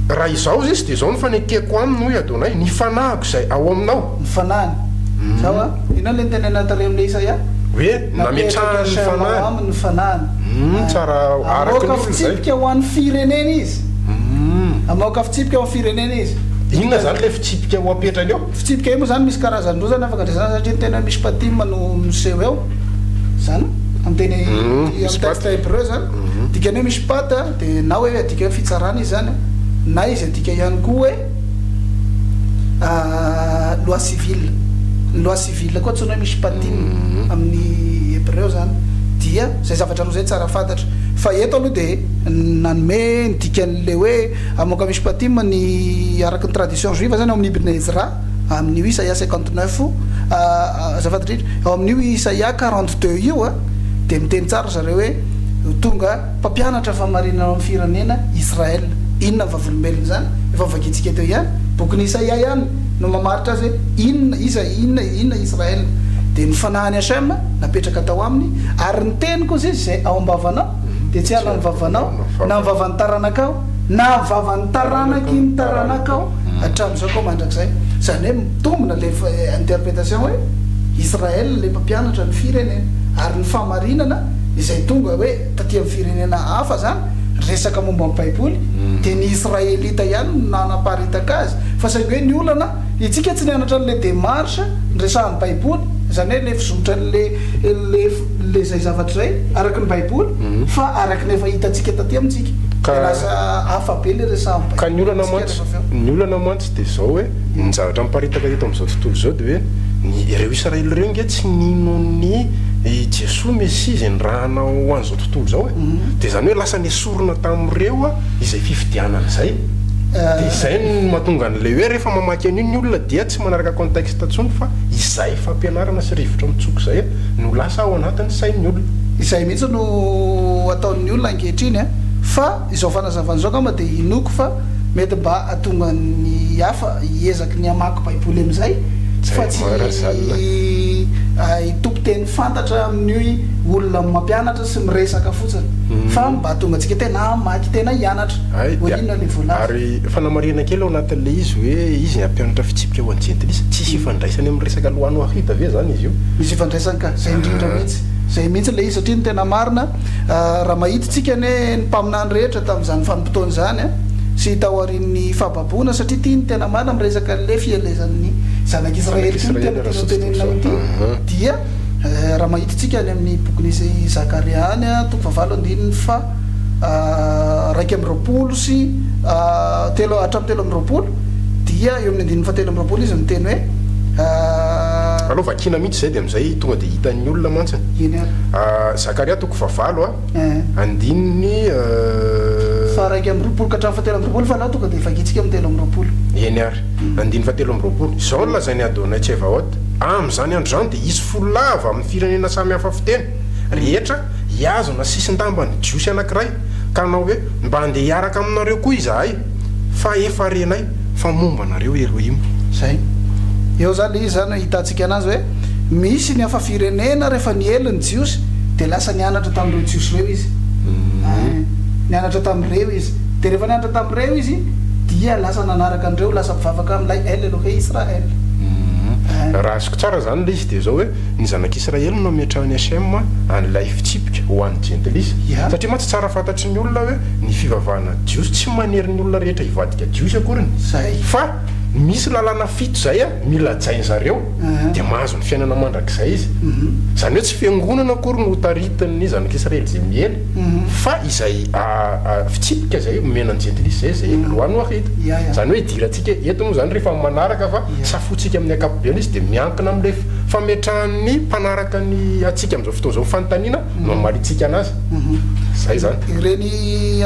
Raha izao izy dia izao no fanekeko aminy, hoy Adonai, ny fanahiko izay ao aminao. Ny fanahiny. Zao an. Inona ilay nitenenina tary amin'ilay Isaia? Hoe. Nametrahany ny fanahiny. Humm tsara araka ny olona izay. Hamoaka fitsipika ho an'ny firenena izy. Humm. Hamoaka fitsipika ho an'ny firenena izy. Inona izany ilay fitsipika ho apetrany eo? Fitsipika io moa izany misy karazan-drozany afaka andraisana satria ny teny hoe mishpatim no miseho eo. Izany amin'ny teny amin'ny texte hebreu izany. Dikany hoe mishpat dia na hoe adika hoe fitsarana izy izany na izy adika ihany koa hoe. Loi civile. Ny loi civile koa antsoina hoe mishpatim amin'ny hebreo zany dia zay zavatra roa zay tsara fantatra fa eto aloha dia nanome ny dikan'ilay hoe amoka mishpatim ny araka ny tradition juive zany ao amin'ny ibn ezra amin'io isaia cinquante neuf azafady indrindra ao amin'io isaia quarante deux io dia miteny tsara ry zareo hoe tonga Mpampianatra fahamarinana ao amin'ny firenena Israel. Inona ny vavolombelona izany? Efa vakintsika teo ihany. Bokin'i Isaia ihany no mamaritra azy hoe inona, iza, inona, inona Israel. Dia ny fanahin'i Hashem napetraka tao aminy, ary ny teniko, hozy izy, izay ao am-bavanao dia tsy hiala amin'ny vavanao, na amin'ny vavan'ny taranakao, na amin'ny vavan'ny taranaky ny taranakao hatramin'izao ka ho mandrakizay. Izany hoe mitombina ilay interpretation hoe Israel ilay mpampianatra ny firenena, ary ny fahamarinana izay tonga hoe taty amin'ny firenena hafa zany resaka momba ny baiboly dia ny israelita ihany no nanaparitaka azy fa saingy hoe ny olana itsika tsy nianatra an'le demarche niresahan'ny baiboly zany hoe le fizotra le le le zay zavatra zay araky ny baiboly fa araky ny efa hitantsika taty amintsika dia lasa hafa be le resahan'ny baiboly ny olana mantsy Dia izao hoe, ny zavatra miparitaka eto amin'izao tontolo izao dia hoe, ny ireo Israely ireo ange tsy nino an'i Jesoa Mesia izay nirahana ho an'izao tontolo izao e! Dia izany hoe lasa nesorina tamin'ireo izay fifidianana izay. Dia izay no mahatonga an'ilay hoe rehefa mamaky an'io ny olona dia tsy manaraka contexte intsony fa izay fampianarana sy rivotra mitsoka izay no lasa ao anatin'ny sain'ny olona. Izay mihitsy no ataon'ny olona ankehitriny an! Fa izao fanazavana izao angamba dia inoako fa Mety mba hahatonga ny hafa hiezaky ny hamaky Baiboly amin'izay, fa tsy hitopy teny fantatra amin'ny olona mampianatra sy miresaka fotsiny, fa mba hahatonga antsika tena hamaky, tena hianatra hoe inona ilay voalaza. Ary fanamarihana kely ao anatin'ilay izy hoe izy ny hampianatra fitsipika ho an'ny Jentilisa. Tsisy ifandraisany amin'ny resaka Lohano Ahita ve izany izy io? Misy ifandraisany ka! Izay indrindra mihitsy. Izay mihitsy ilay izy, satria ny tena marina, raha mahita isika anie ny mpaminany rehetra tamin'izany fanontaniana izany, fotoana izany sy taorian'ny fahababoana satria ity ny tena marina miresaka an'ilay fielezan'ny zanak'i Israely ity no tena tianao tenenina amin'ity dia raha mahitintsika any amin'ny bokin'i Zakaria any toko fahavalo andininy faha raika amby roapolo sy telo hatramin'ny telo amby roapolo dia eo amin'ny andininy fahatelo amby roapolo izy miteny hoe alao vakina mihitsy izay dia amin'izay tonga dia hitan'ny olona mantsy eny ary Zakaria toko fahavalo Andininy. Faharaika amby roapolo ka hatramin'ny fahatelo amby roapolo fa anao tonga dia vakintsika amin'ny telo amby roapolo. Eny ary. Andininy fahatelo amby roapolo. Izao no lazain'i Adonai Tsevaot, Amin'izany andro izany dia hisy folo lahy avy amin'ny firenena samy hafa fiteny rehetra hihazona sisin-damban'ny Jiosy anankiray, ka hanao hoe, Mba handeha hiaraka aminareo koa izahay, fa efa renay. fa momba anareo Erohim. Izay. Eo izany ilay izy izany ahitantsika anazy hoe misy ny hafa firenena rehefa niely ny Jiosy dia lasa nianatra tamin'ireo Jiosy ireo izy. Eeh. Nianatra tamin'ireo izy. Dia rehefa nianatra tamin'ireo izy dia lasa nanaraka an'ireo, lasa mpivavaka amin'ilay El Elohei Israel. Eeh. Raha azoko tsara izany ilay izy dia izao hoe ny zanak'Israely no nametrahan'i Hashem an'ilay fitsipika ho an'ny jentilisa. Satria mantsy tsara fantatry ny olona hoe ny fivavahana Jiosy tsy manery ny olona rehetra hivady Dia jiosy akoriny zay. Fa misy lalàna fito zay an, mila hajainy zareo, dia mahazo ny fiainana mandrakizay izy. Izany hoe tsy fiangonana akory no hotaritin'ny zanak'Israely izay miely, fa izay fitsipika izay omena ny jentilisa izay, izay lois noahides. Izany hoe idirantsika eto moa izany rehefa manaraka fa safointsika amin'ny ankapobeny izy dia miankina amin'ilay fametrahan'ny mpanaraka ny antsika amin'izao fotoana izao fanontaniana, no hamalintsika anazy. Izay izany. Ireny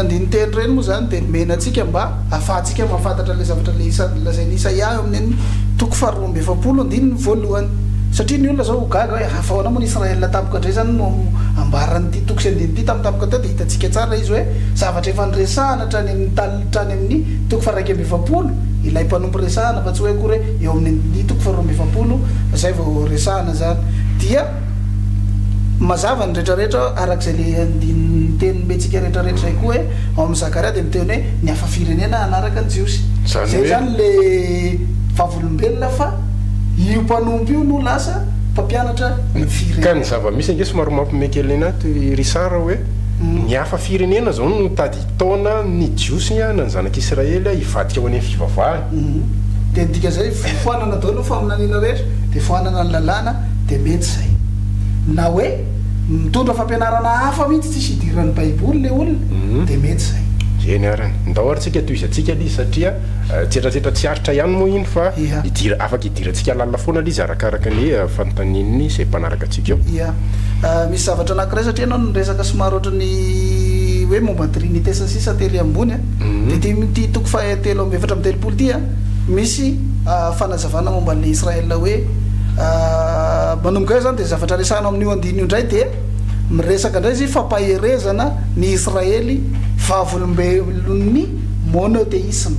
andinin-teny ireny moa izany dia nomena antsika mba hahafahantsika mahafantatra ilay zavatra isan'ny lazain'i Isaia eo amin'ny toko faharoa amby efapolo andininy voalohany. Satria ny olona izao ho gaga hoe ha ahoana moa ny Israel tampoka indray izany no ambaran'ity toko sy andininy ity tamin'ny tampoka teo dia hitantsika tsara izy hoe zavatra efa noresahana hatrany amin'ny tany hatrany amin'ny toko faharaika amby efapolo ilay mpanompo resahana fa tsy hoe akory hoe eo amin'ny andininy toko faharoa amby efapolo izay vao resahana izany dia Mazava ny rehetra rehetra araka izay le andininy teny nomentsika rehetra rehetra izay koa hoe ao amin'ny Zakaria dia miteny hoe ny hafa firenena hanaraka ny Jiosy. Izay izany le vavolombelona fa io mpanompo io no lasa mpampianatra ny firenena. Ka ny zava-misy ange somary mampimekelena ahy toy i Richard hoe ny hafa firenena izao no tadidiana. Taona ny Jiosy ny hanina ny zanak'Israely hivadika ho any amin'ny fivavahany. Dia ny dika izay foanana daholo ny faminaniana rehetra, dia foanana ny lalàna, dia mety izay. Na hoe mitondra fampianarana hafa mihitsy tsisy idiran'ny baiboly ilay olona, dia mety izay. Eny arany. Ndao ary tsika tohizantsika ilay izy satria tsietratsietra tsy aritra ihany moa iny fa afaka idirantsika lalina foana ilay izy arakaraka ny fanontanian'ny izay mpanaraka. antsika. Ia. Misy zavatra anankiray satria ianao niresaka somary ohatry ny hoe momba trinite sy ny sisa tery ambony a. Dia ity ity toko faha telo amby efatra amby telopolo ity a, misy fanazavana momba an'ilay Israël hoe manomboka eo izany dia zavatra resahina ao amin'io andininy io indray dia miresaka indray izy io fampaherezana ny Israely vavolombelon'ny monotheisme.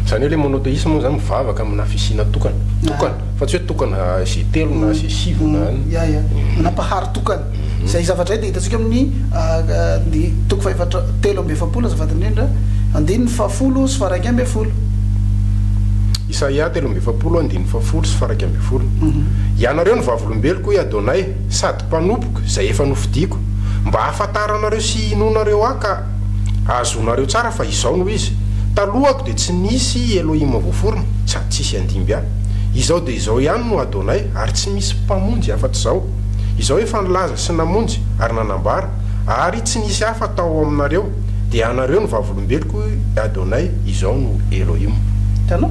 Izany hoe ilay monotheisme moa izany mivavaka amina fisiana tokana, tokana. Fa tsy hoe tokana sy telo na sy sivy na an. Ya ya. Nampahary tokana. Izay zavatra izay dia hitantsika amin'ny ny toko fahefatra telo amby efapolo azafady indrindra, andininy fahafolo sy faharaika ambin'ny folo. Isaia telo amby efapolo andininy fahafolo sy faharaika ambin'ny folo. Ianareo no vavolombeloko, hoy Adonay, sady mpanompoka, izay efa nofidiko, mba hahafantaranareo sy hinoanareo Ahy ka. Azonareo tsara fa izao no izy, Talohako dia tsy nisy i Elohim voaforona, sady tsy hisy handimby ahy. Izao dia izao ihany no Adonai, ary tsy misy mpamonjy afa-tsy izaho. Izaho efa nilaza sy namonjy ary nanambara, ary tsy nisy hafa tao aminareo, dia ianareo no vavolombeloko, Adonai, izao no Elohim. Hitanao?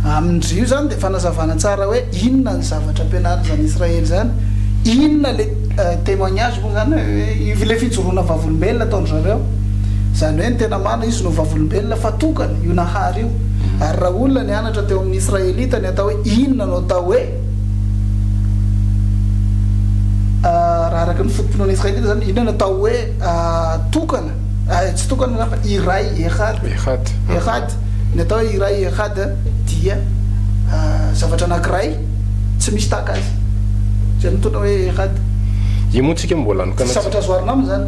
Amin-dry io izany dia fanazavana tsara hoe inona ny zavatra ampianarin'izany Israely izany, inona ilay. Témoignage moa izany hoe ilay fijoroana vavolombelona ataon-dry zareo, izany hoe ny tena marina izy no vavolombelona fa tokana io Nahary io. Ary raha olona nianatra teo amin'ny Israelita ny atao hoe inona no atao hoe, raha araka ny foto-pinoana Israelita izany, inona no atao hoe tokana, tsy tokana izany fa iray, Ehad, Ehad, ny atao hoe iray, Ehad, dia zavatra anankiray. tsy misy tahaka azy izay mitondra hoe rad. Io moa tsika mbola anokana tsy. Tsy zavatra azo oharina aminy izany.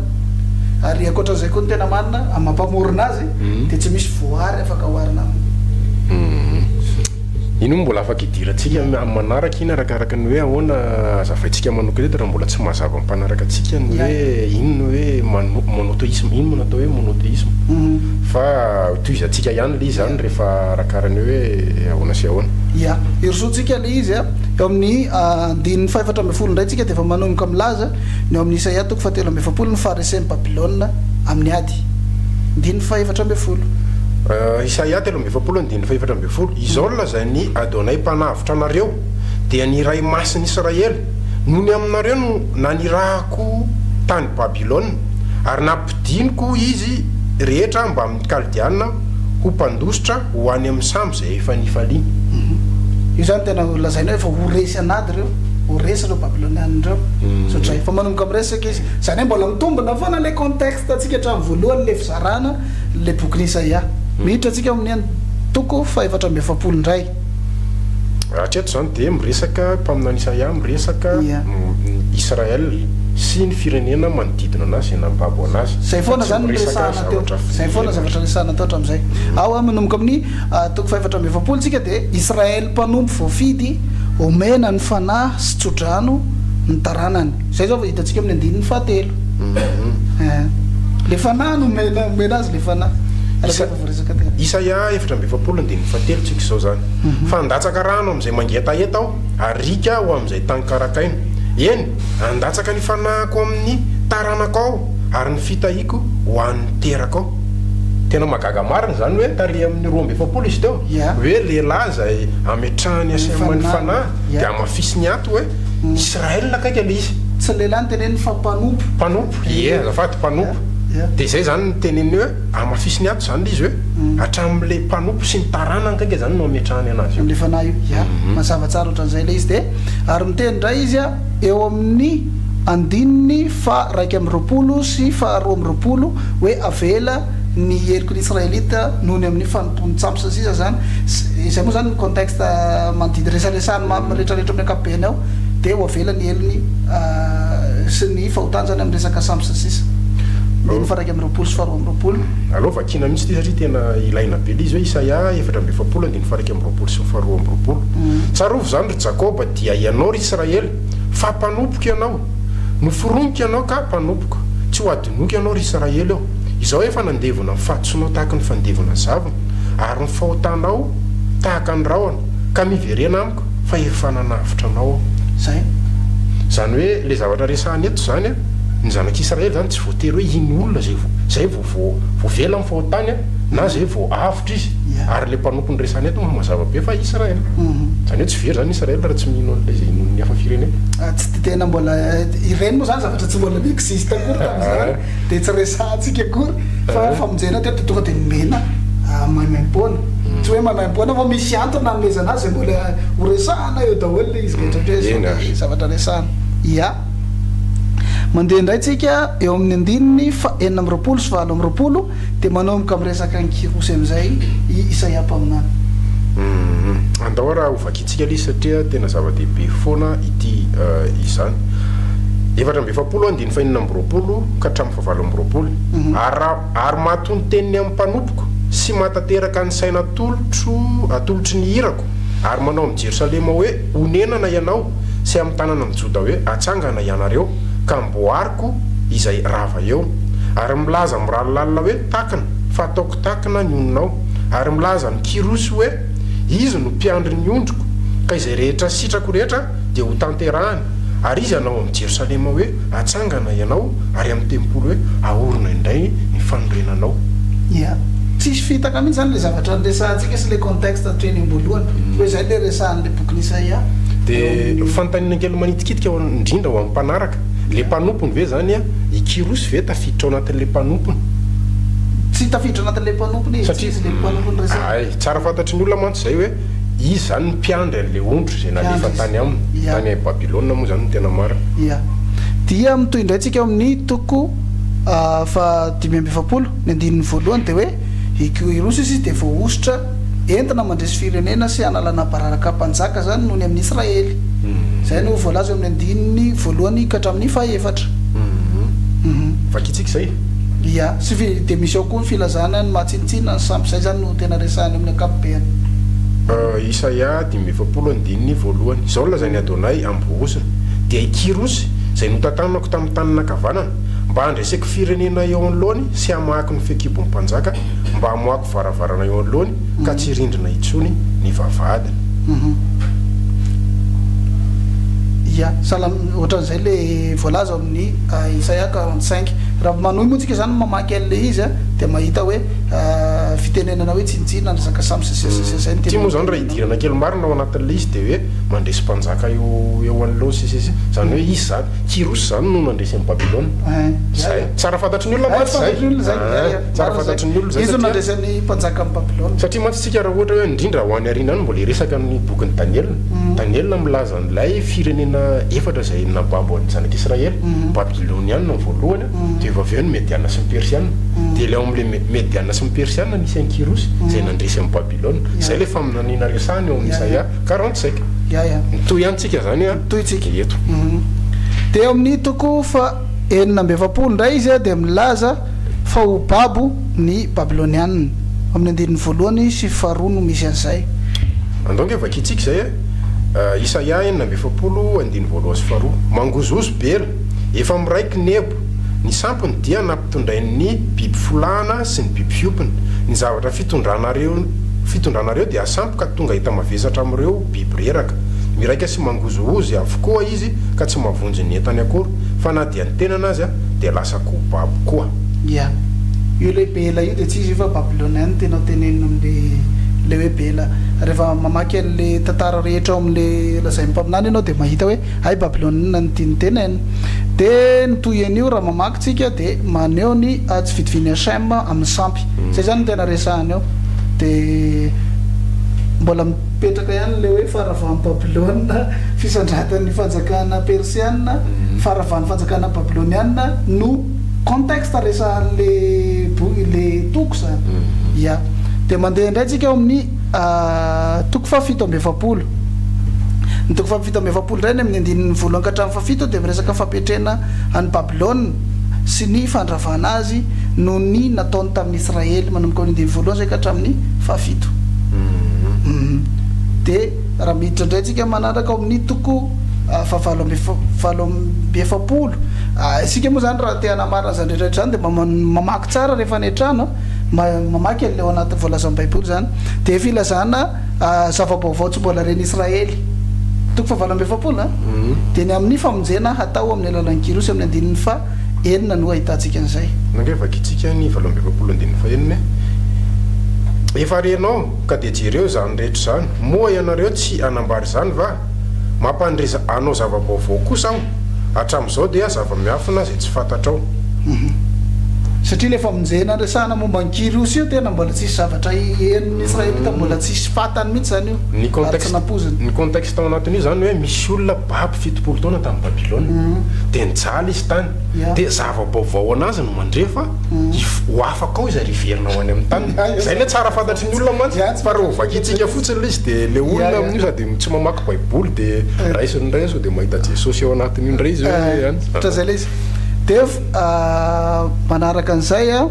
Ary ankoatra izay koa ny tena marina amin'ny maha mpamorona azy dia tsy misy voary afaka oharina aminy. Iny moa mbola afaka idirantsika amin'ny manaraka iny arakaraka ny hoe ahoana azavaintsika manokana eto raha mbola tsy mahazava ny mpanaraka antsika ny hoe iny ny hoe monotheisme iny no natao hoe monotheisme fa tohizantsika ihany ilay izy izany. rehefa arakaraka ny hoe ahoana sy ahoana. Ia. Herosoantsika ilay izy a. Eo amin'ny andininy fahefatra ambin'ny folo indray tsika dia efa manomboka milaza ny ao amin'ny Isaia toko fahatelo amby efapolo ny faharesen'i Babylona amin'ny ady. Andininy fahefatra ambin'ny folo. Isaia telo amby efapolo andininy fahefatra ambin'ny folo, Izao no lazain'i Adonay Mpanavotra anareo, dia ny Iray Masin'i Israely, Nony aminareo no nanirahako tany Babylona, ary nampidiniko izy rehetra mbamin'ny. Kaldiana ho mpandositra ho any amin'ny sambo izay efa nifaliany. Io izany tena lazaina hoe efa ho resy an'ady ireo, ho resy ireo Babyloniana ireo, ohatr'izay. Efa manomboka miresaka izy. Izany hoe mbola mitombina foana ilay contexte antsika hatramin'ny voalohan'ilay fizarana ilay bokin'i Isaia. Miditra isika amin'ny an, toko fahefatra amby efapolo indray. Hatreto izany dia miresaka, mpaminany Isaia miresaka Ia. Israel sy ny firenena manodidina anazy izay nambabo anazy. Izay foana izany no resahana. Tahotra fo. Zay foana ny zavatra resaha natao hatramin'izay. Ao a, manomboka amin'ny toko fahefatra amby efapolo tsika dia Israely mpanompo voafidy omena ny fanahy sy tso-drano ny taranany. Zay zao vao hitantsika amin'ny andininy fahatelo. Eeh. Le fanahy no omena, omena azy le fanahy. Araka izay voaresaka teo. Isaia efatra amby efapolo andininy fahatelo tsika izao zany. Fa handatsaka rano amin'izay mangetaheta aho ary riaka ho amin'izay tany karakaina. Eny, handatsaka ny fanahiko amin'ny taranako aho. Ary ny fitahiako ho an'ny terakao. Tena mahagaga marina izany hoe tarehy amin'ny roa amby efapolo izy teo hoe lehilahy izay ametrahany asema ny fanahy dia hamafisiny ato hoe Israel akaiky ilay izy. Tsy ny lehilahy no teneniny fa mpanompo. Mpanompo, ie azafady, mpanompo. Dia izay izany no teneniny hoe hamafisiny ato izany ilay izy hoe hatramin'ilay mpanompo sy ny taranany akaiky izany no hametrahany anazy eo. Amin'ilay fanahy io, ia. Mazava tsara ohatran'izay ilay izy. Dia ary miteny indray izy. eo amin'ny andininy faha iraika amby roapolo sy faha roa amby roapolo hoe avela ny heriko ny Israelita noho ny amin'ny fanompoan'ny tsampy sy ny sisa izany izay moa izany ny contexte manodidina resaresahan'i Mamy retraretra amin'ny ankapobeny ao dia ho avela ny helony sy ny fahotany izany amin'ny resaka sampy sy ny sisa andininy faha iraika amby roapolo sy faha roa amby roapolo. Aleo vakiana mihitsy ity satria tena ilaina be ilay izy hoe Isaia efatra amby efapolo andininy faha iraika amby roapolo sy ny faha roa amby roapolo. Tsarovy izany. Jakoba, dia ianao, ry Israely, fa mpanompoko ianao. Noforoniko ianao ka mpanompoko. Tsy ho hadinoiko ianao, ry Israely ô. Izao efa nandevona ny fahadisoanao tahaka ny fandevona zavona, ary ny fahotanao tahaka ny rahona, ka miverena amiko, fa efa nanavotra anao aho. Izay. Izany hoe, ilay zavatra resahina eto izany, ny zanak'Israely izany tsy voatery hoe hino olona izay vao, izay vao voavela amin'ny fahotany, na izay vao avy. Lavitra izy. Ary ilay mpanompo noresahana eto moa mazava be fa Israel. Izany hoe tsy very izany Israel raha tsy mino an'ilay izay inoan'ny hafa firenena. Tsy tena mbola, ireny moa izany zavatra tsy mbola ni-existe akory tamin'izany dia tsy resahantsika akory. Fa ny famonjena teto tonga dia nomena maimaim-poana. Tsy hoe maimaim-poana fa misy antony nanomezana azy izay mbola ho resahana eo daholo ilay izy rehetra hatreto izao dia zavatra resahana. Ia. Mandeha indray tsika eo amin'ny andininy fahenina amby roapolo sy valo amby roapolo Dia manomboka miresaka an'i Kyrosy amin'izay i Isaia mpaminany. Andao ary hovakiantsika ilay izy satria tena zava-dehibe foana ity izany. Efatra amby efapolo andininy fahenina amby roapolo ka hatramin'ny fahavalo amby roapolo. Ary, ary mato ny teniny amin'ny mpanompoko sy mahatateraka ny saina atolotro, atolotry ny irako, ary manao amin'i Jerosalema hoe, Honenana ianao, sy amin'ny tanana amin'i Joda hoe, Atsangana ianareo, ka amboariko, koa izay rava eo, ary milaza mirary lalina hoe, Takina, fa ataoko takina ny oninao, ary milaza ny Kyrosy hoe, Izy no mpiandry ny ondriko, ka izay rehetra sitrako rehetra dia hotanterahany, ary izy hanao amin'i Jerosalema hoe, Atsangana ianao, ary amin'ny tempoly hoe, Ahorona indray ny fanorenanao. Ia. Tsisy fitaka mihitsy izany ilay zavatra resahantsika sy ilay contexte hatry ny am-boalohany. Koa izay ilay resahan'ilay bokin'i Isaia eo amin'ny. Dia fanontaniana kely manitikitika indrindra ho an'ny mpanaraka. Le mpanompony ve zany a? I Kyrosy ve tafiditra ao anatin'le mpanompony? Tsy tafiditra anatin'le mpanompony izy, tsy izy le mpanompony resahina. Hay, tsara fantatry ny olona mantsy zay hoe izy zany ny mpiandry an'le ondry zay nalefa tany aminy, tany Babylona moa zany no tena marina. Ia. Dia mitohy indray tsika ao amin'ny toko faha dimy amby efapolo, ny andininy voalohany dia hoe i Kyrosy izy dia voahosotra Entina mandresy firenena sy hanalana bararaka mpanjaka izany noho ny amin'ny Israely. Izay no voalaza eo amin'ny andininy voalohany ka hatramin'ny fahefatra. Vakintsika izay e! Ia. Sy fi, dia misy ao koa ny filazana ny maha tsinontsinona ny sampy, izay izany no tena resahina eo amin'ny ankapobeny. Isaia dimy amby efapolo andininy voalohany. Izao no lazain'i Adonay, Ambohosa, dia i Kyrosy, izay notantanako tamin'ny tanana ankavanana, mba handreseko firenena eo anoloany sy hamahako ny fehikibon'ny mpanjaka, mba hamoahako varavarana eo anoloany ka tsy rindrina intsony ny vavahadiny. Ia, salam, ohatran'izay le voalaza ao amin'ny Isaia quarante cinq. Raha manohy moa tsika zany mamaky an'le izy a, dia mahita hoe fitenenana hoe tsinontsinona ny resaka samy sy zay sy zay zay no tena. Ity moa zany raha idirana kely marina ao anatin'le izy dia hoe mandresy mpanjaka eo eo anoloany sy sisa zany hoe izy zany Kyrosy zany no nandresy an'i Babylona. Ein, zay. Tsara fantatry ny olona mantsy zay. Tsara fantatry ny olona zay. Tsara fantatry ny olona izay satria. Iza no nandraisan'ny mpanjaka an'i Babylona? Satria mantsy isika raha ohatra hoe handrindra ho any aoriana any mbola hiresaka amin'ny bokin'i Daniela. Daniela milaza an'ilay firenena efatra izay nababo an'ny zanak'Israely. Ny Babylonianina ny voalohany, dia vao avy eo ny Mediana sy ny Persiana. Dia ilay ao amin'ilay Mediana sy ny Persiana nisy an'i Kyrosy izay nandresy an'i Babylona. Izay ilay faminaniana resahiny ao amin'ny Isaia quarante cinq. Mitohy ihany tsika izany eto. Dia ao amin'ny toko faha enina amby efapolo indray izy dia milaza. Fa ho babo ny Babylonianina. Ao amin'ny andininy voalohany sy faharoa no misy an'izay. Andao ange vakintsika izay e! Isaia enina amby efapolo andininy voalohany sy faharoa. Mangozohozo be ela. Efa miraiky Nebo. Ny sampiny dia nampitondrain'ny biby folahana sy ny biby fiompiny. Ny zavatra fitondranareo fitondranareo dia sampy ka tonga hita mavesatra amin'ireo biby reraka. Miraika sy mangozohozy avokoa izy ka tsy mavonjy ny entany akory. fa na dia ny tenany aza dia lasa ko babo koa. Ia. Io ilay Bela io dia tsy izy io fa Babylonian no tena tenenina amin'ilay ilay hoe Bela. Rehefa mamaky an'ilay tantara rehetra ao amin'ilay lazain'ny mpaminany ianao dia mahita hoe hay Babylonian no tiany tenenina. Dia ny toy an'io raha mamaky tsika dia maneho ny tsy fitovian'i Hachem amin'ny sampy. Izay izany no tena resahany ao. Dia mbola. Mipetraka ihany ilay hoe faharavan'i Babylona, fisandratany fanjakana persiana, faharavan'ny fanjakana babyloniana no contexte resahan'le boky, le toko zany. Ya. Dia mandeha indray tsika ao amin'ny toko fahafito amby efapolo. Ny toko fahafito amby efapolo indray, any amin'ny andininy voalohany ka hatramin'ny fahafito dia miresaka ny fampiatrena an'i Babylona. sy ny fandravana azy noho ny nataony tamin'ny Israely manomboka amin'ny andininy voalohany izay ka hatramin'ny fahafito. Dia raha miditra indray isika manaraka ao amin'ny toko fahavalo amby valo amby efapolo, isika moa izany raha te hanamarina izany rehetra rehetra izany dia mamaky tsara rehefa any an-trano, mamaky an'ilay ao anatin'ny voalazan'ny Baiboly izany, dia filazana. Zava-baovao tsy mbola ren'i Israely, toko fahavalo amby efapolo a, dia ny amin'ny famonjena hatao amin'ny alalan'i Kyrosy amin'ny andininy faha enina no ahitantsika an'izay. Nge vakintsika ny valo amby efapolo andininy faha enina e. Efa renao ka dia jereo izany rehetra izany. Moa ianareo tsy hanambara izany va? Mampandre anao zava-baovao kosa aho. Hatramin'izao dia zava-miafina izay tsy fantatrao. Satria ilay famonjena niresahana momba an'i Kyriosy io tena mbola tsisy zavatra henon'ny Israelita, mbola tsisy fantany mihitsy izany io ary tsy nampoiziny. Ny contexte tao anatin'io izany hoe misy olona babo fitopolo taona tany Babylona, dia nijaly izy tany, dia zava-baovao ho an'azy no mandre fa ho afaka ao izy ary hiverina ho any amin'ny taniny. Izay ilay tsara fantatr'izy ireo. Ny olona mantsy tsy par exemple vakintsika fotsiny ilay izy dia ilay olona amin'io sady tsy mamaky baiboly dia raisiny indray sao dia mahita Jesosy ao anatin'io indray izy hoe an. Ohatra izay ilay izy. Dia manaraka an'izay an,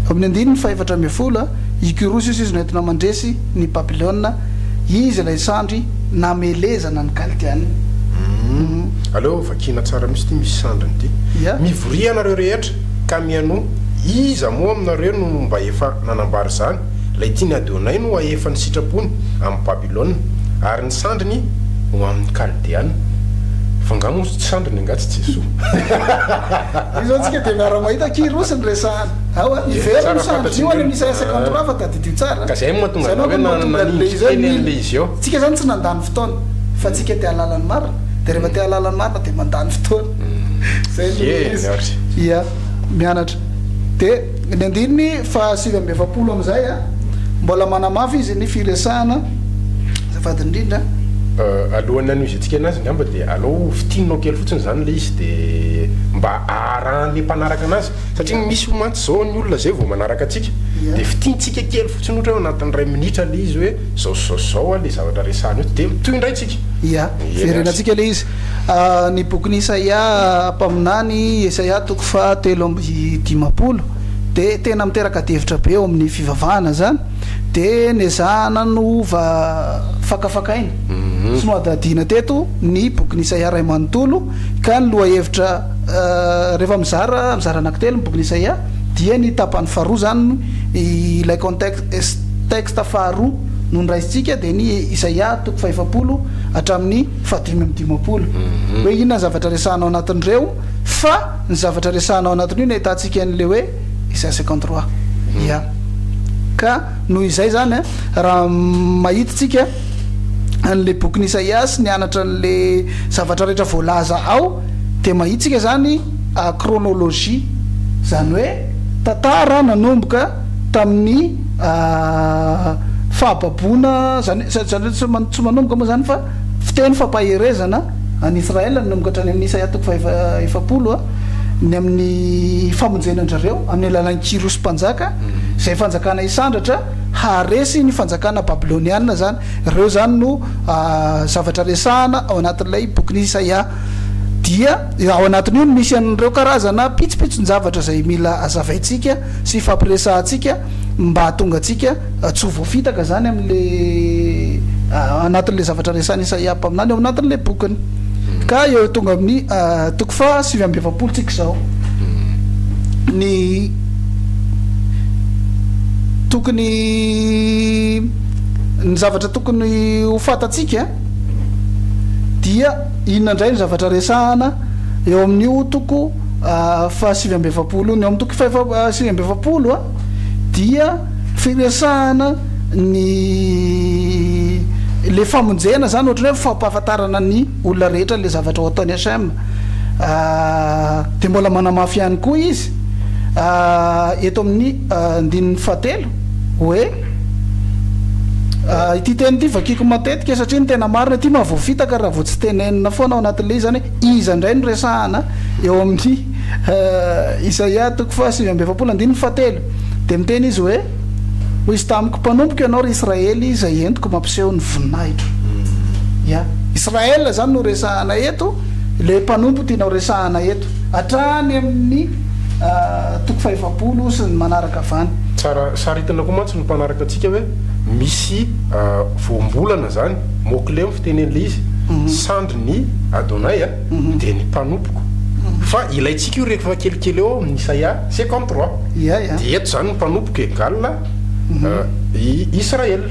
amin'ny andininy fahefatra ambin'ny folo an, i Kyrosy hoy izy no entina mandresy ny Babylona, izy ilay sandry namelezana ny Kaldeanina. Aleo vakiana tsara mihitsy ity misy sandriny ity. Mivoria ianareo rehetra. Ka mihainoa, iza moa aminareo no mba efa nanambara izany? Ilay tiany hadeonay no hahefa ny sitrapony amin'i Babylona, ary ny sandriny ho amin'ny Kaldeana. Fa angaha moa tsy sandriny angaha tsy Jesoa? Io izao tsika dia miara-mahita Kyrosy no resahana. Ao an, miverina io sandriny io any amin'ny Isaia cinquante trois fa tadidio tsara. Ka izay no mahatonga anao hoe nanindry teny an'ilay izy eo. Tsika izany tsy nandany fotoana, fa tsika te-hahalala ny marina, dia rehefa te-hahalala ny marina dia mandany fotoana. Ia, mianatra. Dia ny andininy fahasivy amby efapolo amin'izay an, mbola manamafy izy ny firesahana, azafady indrindra an. Alohan'ny hanohizatsika anazy angamba dia alao fintinina kely fotsiny izany ilay izy dia mba haharahan'ilay mpanaraka anazy. Satria misy mantsy izao ny olona izay vao manaraka antsika dia fintintsika kely fotsiny ohatra hoe ao anatin'ny iray minitra ilay izy hoe izao sy izao sy izao ilay zavatra resahana eo dia mitohy indray tsika. Ia, verenantsika ilay izy. A Ny bokin' Isaia mpaminany, Esaia toko faha telo amby dimampolo, dia tena miteraka adihevitra be eo amin' ny fivavahana izany, dia nezahana nova fakafakaina sy nohadihadiana teto ny bokin' ny Isaia iray manontolo, ka ny lohahevitra rehefa mizara mizara anankitelo ny bokin' Isaia dia ny tapany faharoa izany ilay contexte faharoa no noraisintsika dia ny Isaia toko faha efapolo hatramin' ny fahadimy amby dimampolo hoe inona ny zavatra resahana ao anatin'ireo fa ny zavatra resahana ao anatin'io no ahitantsika an'ilay hoe Isaia cinquante trois ia ka noho izay izany a raha mahitintsika an'ilay bokin'i Isaia sy ny anatra an'ilay zavatra rehetra voalaza ao dia mahitintsika izany chronologie izany hoe tantara nanomboka tamin'ny fahababoana, izany hoe tsy manomboka moa izany fa fiteny fampaherezana an'i Israël nanomboka hatrany amin'ny Isaia toko faha efapolo, ny amin'ny famonjena an-dRareo amin'ny alalan'i Kyrosy mpanjaka, izay fanjakana hisandratra haharesy ny fanjakana babyloniana izany, ireo izany no zavatra resahana ao anatin'ilay bokin'i Isaia, dia ao anatin'io no misy an'ireo karazana pitsopitson-javatra izay mila hazavaintsika sy hifampiresahantsika mba hahatonga antsika tsy ho voafitaka izany amin'ilay anatin'ilay zavatra resahan'i Isaia mpaminany ao anatin'ilay bokiny. Ka eo tonga amin'ny toko faha sivy amby efapolo tsika izao. Ny tokony ny zavatra tokony ho fantatsika dia inona indray ny zavatra resahana eo amin'io toko fahasivy amby efapolo ny ao amin'ny toko fahasivy amby efapolo dia firesahana ny le famonjena zany ohatrany hoe fampahafantarana ny olona rehetra le zavatra ho ataon'ny HM de mbola manamafy ihany koa izy eto amin'ny andininy fahatelo hoe ity teny ity vakiako matetika satria ny tena marina ity mahavoafitaka raha vao tsy tenenina foana ao anatin'le izy zany Iza indray no resahana eo amin'ny Isaia toko fahasivy amby efapolo andininy fahatelo? Dia miteny izy hoe, Hoy izy tamiko, Mpanompoko ianao, ry Israely, izay entiko mampiseho ny voninahitro. Ia? Israel izany no resahana eto, ilay mpanompo tianao resahana eto, hatrany amin'ny toko fahefapolo sy ny manaraka avy any. Tsara saritina koa mantsy ny mpanaraka antsika hoe misy voambolana izany, mot-clé, Teny an'ilay izy, sandry ny Adonai dia ny mpanompoko. Fa ilaintsika io rehefa kelikely eo amin'ny Isaia cinquante trois. Dia eto izany ny mpanompoko egal i Israel.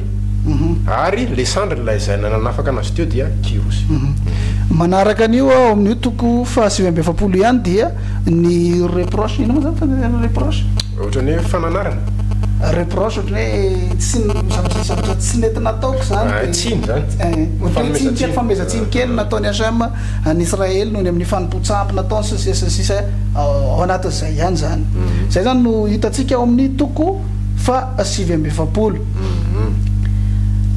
Ary ilay sandry nilaizaina nanafaka anazy teo dia Kyrosy. Manaraka an'io ao amin'io toko fahasivy amby efapolo ihany dia ny reproche, inona moa izany fanaovana reproche? Ohatran'ny hoe fananarana. Reproche ohatran'ny hoe tsy zavatra zavatra tsy nety nataoko zany. Ah, tsiny zany. Eh, ohatran'ny hoe tsiny kely fanomezan-tsiny kely nataon'i HM an'i Israely noho ny amin'ny fanompoan-tsampy nataony sy ny sisa ny sisa ao anatin'izay ihany zany. Mm-hmm. Zay zany no hitantsika ao amin'ny toko faha sivy amby efapolo. Mm-hmm.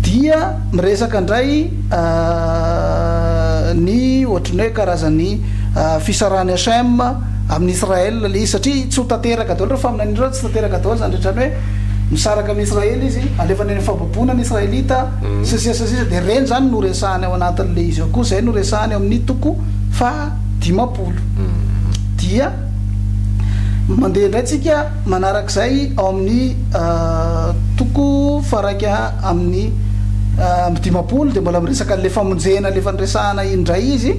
Dia miresaka indray ah, ny ohatran'ny hoe karazan'ny ah, fisarahan'i HM. Amin' Israel le izy satria tsy ho tanteraka daholo ireo faminaniana ireo, tsy tanteraka daholo izany rehetra izany hoe misaraka amin' Israel izy, alefany any amin' ny fahababoana ny Israelita sy ny sisa sy ny sisa, dia ireny izany no resahany ao anatin' le izy ao koa, izay no resahany ao amin' ny toko faha dimampolo. Dia mandeha indray tsika manaraka izay ao amin' ny toko fahairaika amin' ny amby dimampolo dia mbola miresaka an' ilay famonjena efa niresahana iny indray izy,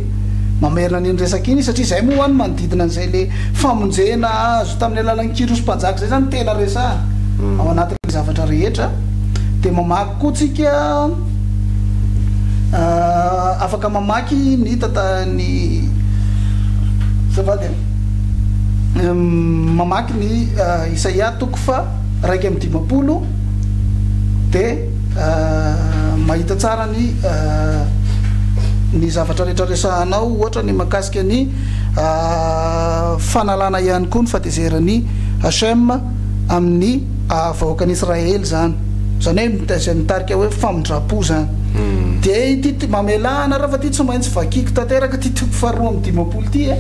Mamerina an'iny resaka iny satria izay moa hoany manodidina an'izay le famonjena azo tamin'ny alalan'i Kyros mpanjaka izay zany tena resahana ao anatin'ny zavatra rehetra dia mamaky koa tsika afaka mamaky ny tata ny azafady a mamaky ny Isaia toko fa raika amby dimampolo dia mahita tsara ny ny zavatra rehetra resahanao, ohatra ny mahakasika ny fanalana ihany koa ny fatezeran'i Hachem amin'ny vahoakan'i Israely izany, izany hoe izay mitarika hoe famindram-po izany. Dia ity ti- mamelà anareo fa ity tsy maintsy vakiako tanteraka ity toko faharoa amby dimampolo ity e,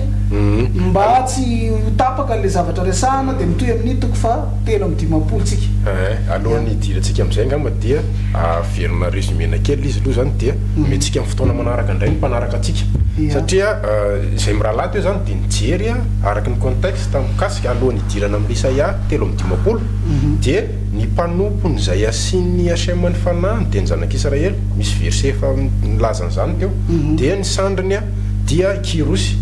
mba tsy ho tapaka ilay zavatra resahana dia mitohy amin'ny toko faha. telo amby dimampolo tsika. Eeh, alohan'ny hidirantsika amin'izay angamba dia averina résumé-na kely izy aloha izany dia mhm. omentsika amin'ny fotoana manaraka indray ny mpanaraka antsika. Satria eh, izay mirahalahy teo izany dia nijery eh, araka ny contexte mikasika alohan'ny hidirana amin'ny Isaia telo amby dimampolo mhm. dia ny mpanompon'izay asian'ny HM ny fanahiny dia ny zanak'Israely, misy verset efa milaza an'izany teo, mhm. dia ny sandriny dia i Kyrosy.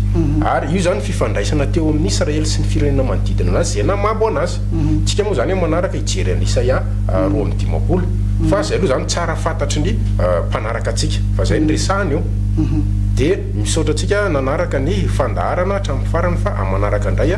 Ary io izany fifandraisana teo amin'i Israely sy ny firenena manodidina anazy izay namabo anazy. Isika moa izany amin'ny manaraka hijery an'i Isaia roa amby dimampolo. Fa izay aloha izany tsara fantatry ny mpanaraka antsika fa izay no resahina eo. Dia misaotra antsika nanaraka ny fandaharana hatramin'ny farany fa amin'ny manaraka indray.